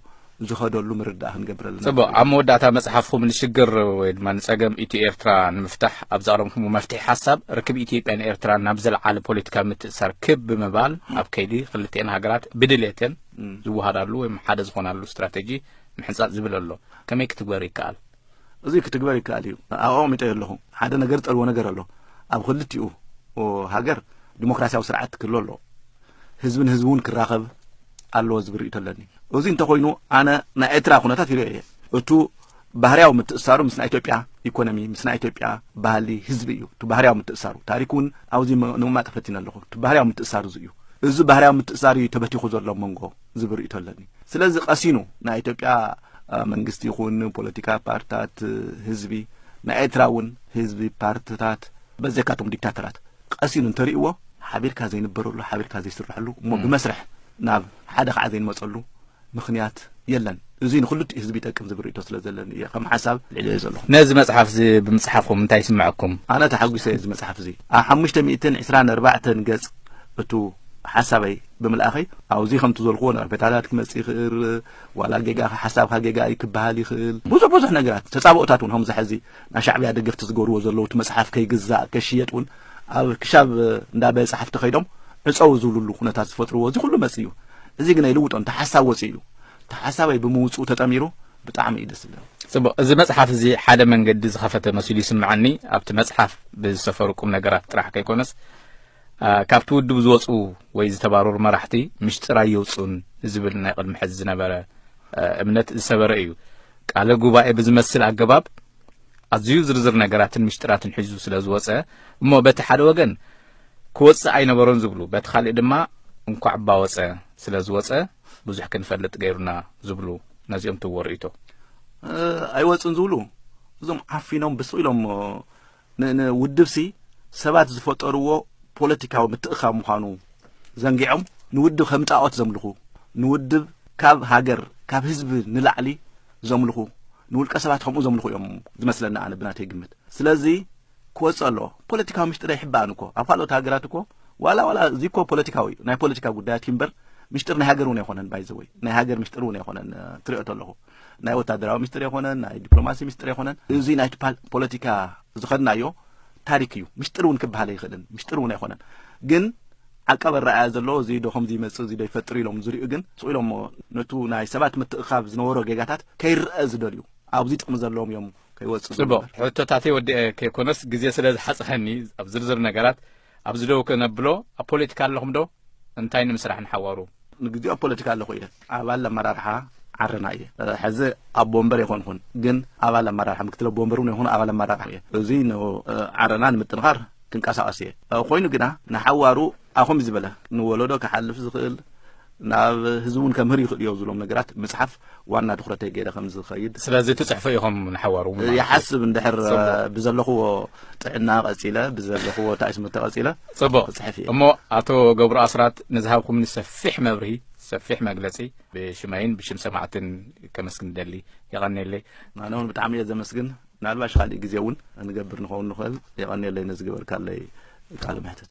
ዝኸደሉ ምርዳእ ክንገብር ኣለና ጽቡቅ ኣብ መወዳእታ መጽሓፍኹም ንሽግር ወይ ድማ ንጸገም ኢትዮ ኤርትራ ንምፍታሕ ኣብ ዘቕረብኩሞ መፍትሒ ሓሳብ ርክብ ኢትዮጵያን ኤርትራን ናብ ዘለዓለ ፖለቲካዊ ምትእሳር ክብ ብምባል ኣብ ከይዲ ክልቲኤን ሃገራት ብድሌተን ዝወሃዳሉ ወይም ሓደ ዝኾናሉ ስትራቴጂ ምሕንጻጽ ዝብል ኣሎ ከመይ ክትግበር ይከኣል እዙይ ክትግበር ይከኣል እዩ ኣቐሚጠዮ ኣለኹ ሓደ ነገር ዝጠልቦ ነገር ኣሎ ኣብ ክልቲኡ ሃገር ዲሞክራሲያዊ ስርዓት ክህሎ ኣለዎ ህዝቢ ንህዝቢ እውን ክራኸብ ኣለዎ ዝብል ርእቶ ኣለኒ እዚ እንተኮይኑ ኣነ ናይ ኤርትራ ኩነታት ይርኦ እየ እቱ ባህርያዊ ምትእሳሩ ምስ ናይ ኢትዮጵያ ኢኮኖሚ ምስ ናይ ኢትዮጵያ ባህሊ ህዝቢ እዩ እቲ ባህርያዊ ምትእሳሩ ታሪክ እውን ኣብዚ ንምማጥ ፈቲነ ኣለኹ እቲ ባህርያዊ ምትእሳር እዚ እዩ እዚ ባህርያዊ ምትእሳር እዩ ተበቲኹ ዘሎ መንጎ ዝብል ርእቶ ኣለኒ ስለዚ ቀሲኑ ናይ ኢትዮጵያ መንግስቲ ይኹን ፖለቲካ ፓርትታት ህዝቢ ናይ ኤርትራ እውን ህዝቢ ፓርትታት በዘካቶም ዲክታተራት ቀሲኑ እንተርእዎ ሓቢርካ ዘይንበረሉ ሓቢርካ ዘይስረሐሉ እሞ ብመስርሕ ናብ ሓደ ከዓ ዘይንመፀሉ ምክንያት የለን እዚ ንክልቲኡ ህዝቢ ይጠቅም ዝብል ርእቶ ስለ ዘለኒ እየ ከም ሓሳብ ልዕልዮ ዘለኹ ነዚ መፅሓፍ እዚ ብምፅሓፍኩም እንታይ ይስምዐኩም ኣነ ተሓጒሰ እዚ መፅሓፍ እዚ ኣብ ሓሙሽተ ሚእትን ዕስራን ኣርባዕተን ገፅ እቱ ሓሳበይ ብምልኣኸይ ኣብዙይ ከምቲ ዘልክዎ ነቐፌታታት ክመጽእ ይኽእል ዋላ ጌጋ ሓሳብካ ጌጋ እዩ ክበሃል ይኽእል ብዙሕ ብዙሕ ነገራት ተጻብኦታት እውን ከምዚ ሕዚ ናይ ሻዕብያ ደገፍቲ ዝገብርዎ ዘለዉ እቲ መጽሓፍ ከይግዛእ ከሽየጥ እውን ኣብ ክሻብ እንዳ ቤት ጸሓፍቲ ከይዶም ዕጸው ዝብልሉ ኩነታት ዝፈጥርዎ እዚ ኩሉ መጽእ እዩ እዚ ግን ኣይልውጦ እንተ ሓሳብ ወፂኡ እዩ እቲ ሓሳባይ ብምውፅኡ ተጠሚሩ ብጣዕሚ እዩ ደስ ዝብለኒ ጽቡቅ እዚ መጽሓፍ እዚ ሓደ መንገዲ ዝኸፈተ መሲሉ ይስምዓኒ ኣብቲ መጽሓፍ ብዝሰፈሩ ቁም ነገራት ጥራሕ ከይኮነስ ካብቲ ውድብ ዝወፁ ወይ ዝተባረሩ መራሕቲ ምሽጥር ኣየውፅኡን ዝብል ናይ ቅድሚ ሕዚ ዝነበረ እምነት ዝሰበረ እዩ። ቃለ ጉባኤ ብዝመስል ኣገባብ ኣዝዩ ዝርዝር ነገራትን ምሽጥራትን ሒዙ ስለ ዝወፀ እሞ በቲ ሓደ ወገን ክወፅእ ኣይነበሮን ዝብሉ በቲ ካሊእ ድማ እንኳዕ ባወፀ ስለ ዝወፀ ብዙሕ ክንፈልጥ ገይሩና ዝብሉ ነዚኦም ትዎ ርእቶ ኣይወፅን ዝብሉ እዞም ዓፊኖም ብስቕ ኢሎም ንውድብሲ ሰባት ዝፈጠርዎ ፖለቲካዊ ምትእኽኻብ ምዃኑ ዘንጊዖም ንውድብ ከም ጣዖት ዘምልኹ፣ ንውድብ ካብ ሃገር ካብ ህዝቢ ንላዕሊ ዘምልኹ፣ ንውልቀ ሰባት ከምኡ ዘምልኹ እዮም ዝመስለኒ ኣነ ብናተይ ግምት። ስለዚ ክወጽእ ኣለዎ። ፖለቲካዊ ምሽጢር ኣይሕባእን እኮ ኣብ ካልኦት ሃገራት እኮ ዋላ ዋላ እዚ እኮ ፖለቲካዊ እዩ ናይ ፖለቲካ ጉዳያት እዩ እምበር ምሽጢር ናይ ሃገር እውን ኣይኮነን ባይዘወይ ናይ ሃገር ምሽጢር እውን ኣይኮነን ትሪኦ ተለኹ ናይ ወታደራዊ ሚስጥር የኮነን ናይ ዲፕሎማሲ ሚስጥር የኮነን እዚ ናይ ፖለቲካ ዝኸድናዮ ታሪክ እዩ ሚስጥር እውን ክበሃል ኣይኽእልን ሚስጥር እውን ኣይኮነን ግን ዓቀብ ኣረኣያ ዘለዎ እዚ ዶ ከምዚ ይመፅእ እዚ ዶ ይፈጥር ኢሎም ዝሪኡ ግን ስቕ ኢሎሞ ነቱ ናይ ሰባት ምትእኻብ ዝነበሮ ጌጋታት ከይረአ ዝደልዩ ኣብዚ ጥቕሚ ዘለዎም እዮም ከይወፅእ ፅቡቕ ሕቶታተይ ወዲአ ከይኮነስ ግዜ ስለ ዝሓፅሐኒ ኣብ ዝርዝር ነገራት ኣብዚ ደው ክነብሎ ኣብ ፖለቲካ ኣለኹም ዶ እንታይ ንምስራሕ ንሓዋሩ። ንግዚኡ ኣብ ፖለቲካ ኣለኹ እየ ኣባል ኣመራርሓ ዓረና እየ ሕዚ ኣቦ ወንበር ኣይኮንኹን ግን ኣባል ኣመራርሓ ምክትል ኣቦ ወንበር እውን ኣይኮኑ ኣባል ኣመራርሓ እየ እዚ ዓረና ንምጥንኻር ክንቀሳቀስ እየ ኮይኑ ግና ንሓዋሩ ኣኹም ዝበለ ንወለዶ ክሓልፍ ዝኽእል ናብ ህዝቢ እውን ከምህር ይኽእል እዮ ዝብሎም ነገራት ምፅሓፍ ዋና ትኩረተይ ገይረ ከም ዝኸይድ ስለዚ ትፅሕፉ ኢኹም ንሓዋሩ እ፣ ይሓስብ እንድሕር እ፣ ጽቡቕ። ብዘለኽዎ ጥዕና ቀፂለ ብዘለኽዎ እንታይ ስሙ ተቐፂለ ጽቡቕ ክፅሕፍ እየ እሞ ኣቶ ገብሩ ኣስራት ንዝሃብኩምኒ ሰፊሕ መብርሂ ሰፊሕ መግለጺ ብሽመይን ብሽም ሰማዕትን ከመስግን ደሊ የቐኔለይ ኣነ እውን ብጣዕሚ እየ ዘመስግን ምናልባሽ ካሊእ ግዜ እውን ንገብር ንኸውን ንኽእል የቐኔለይ ነዚ ግበርካለይ ቃለ መሕትት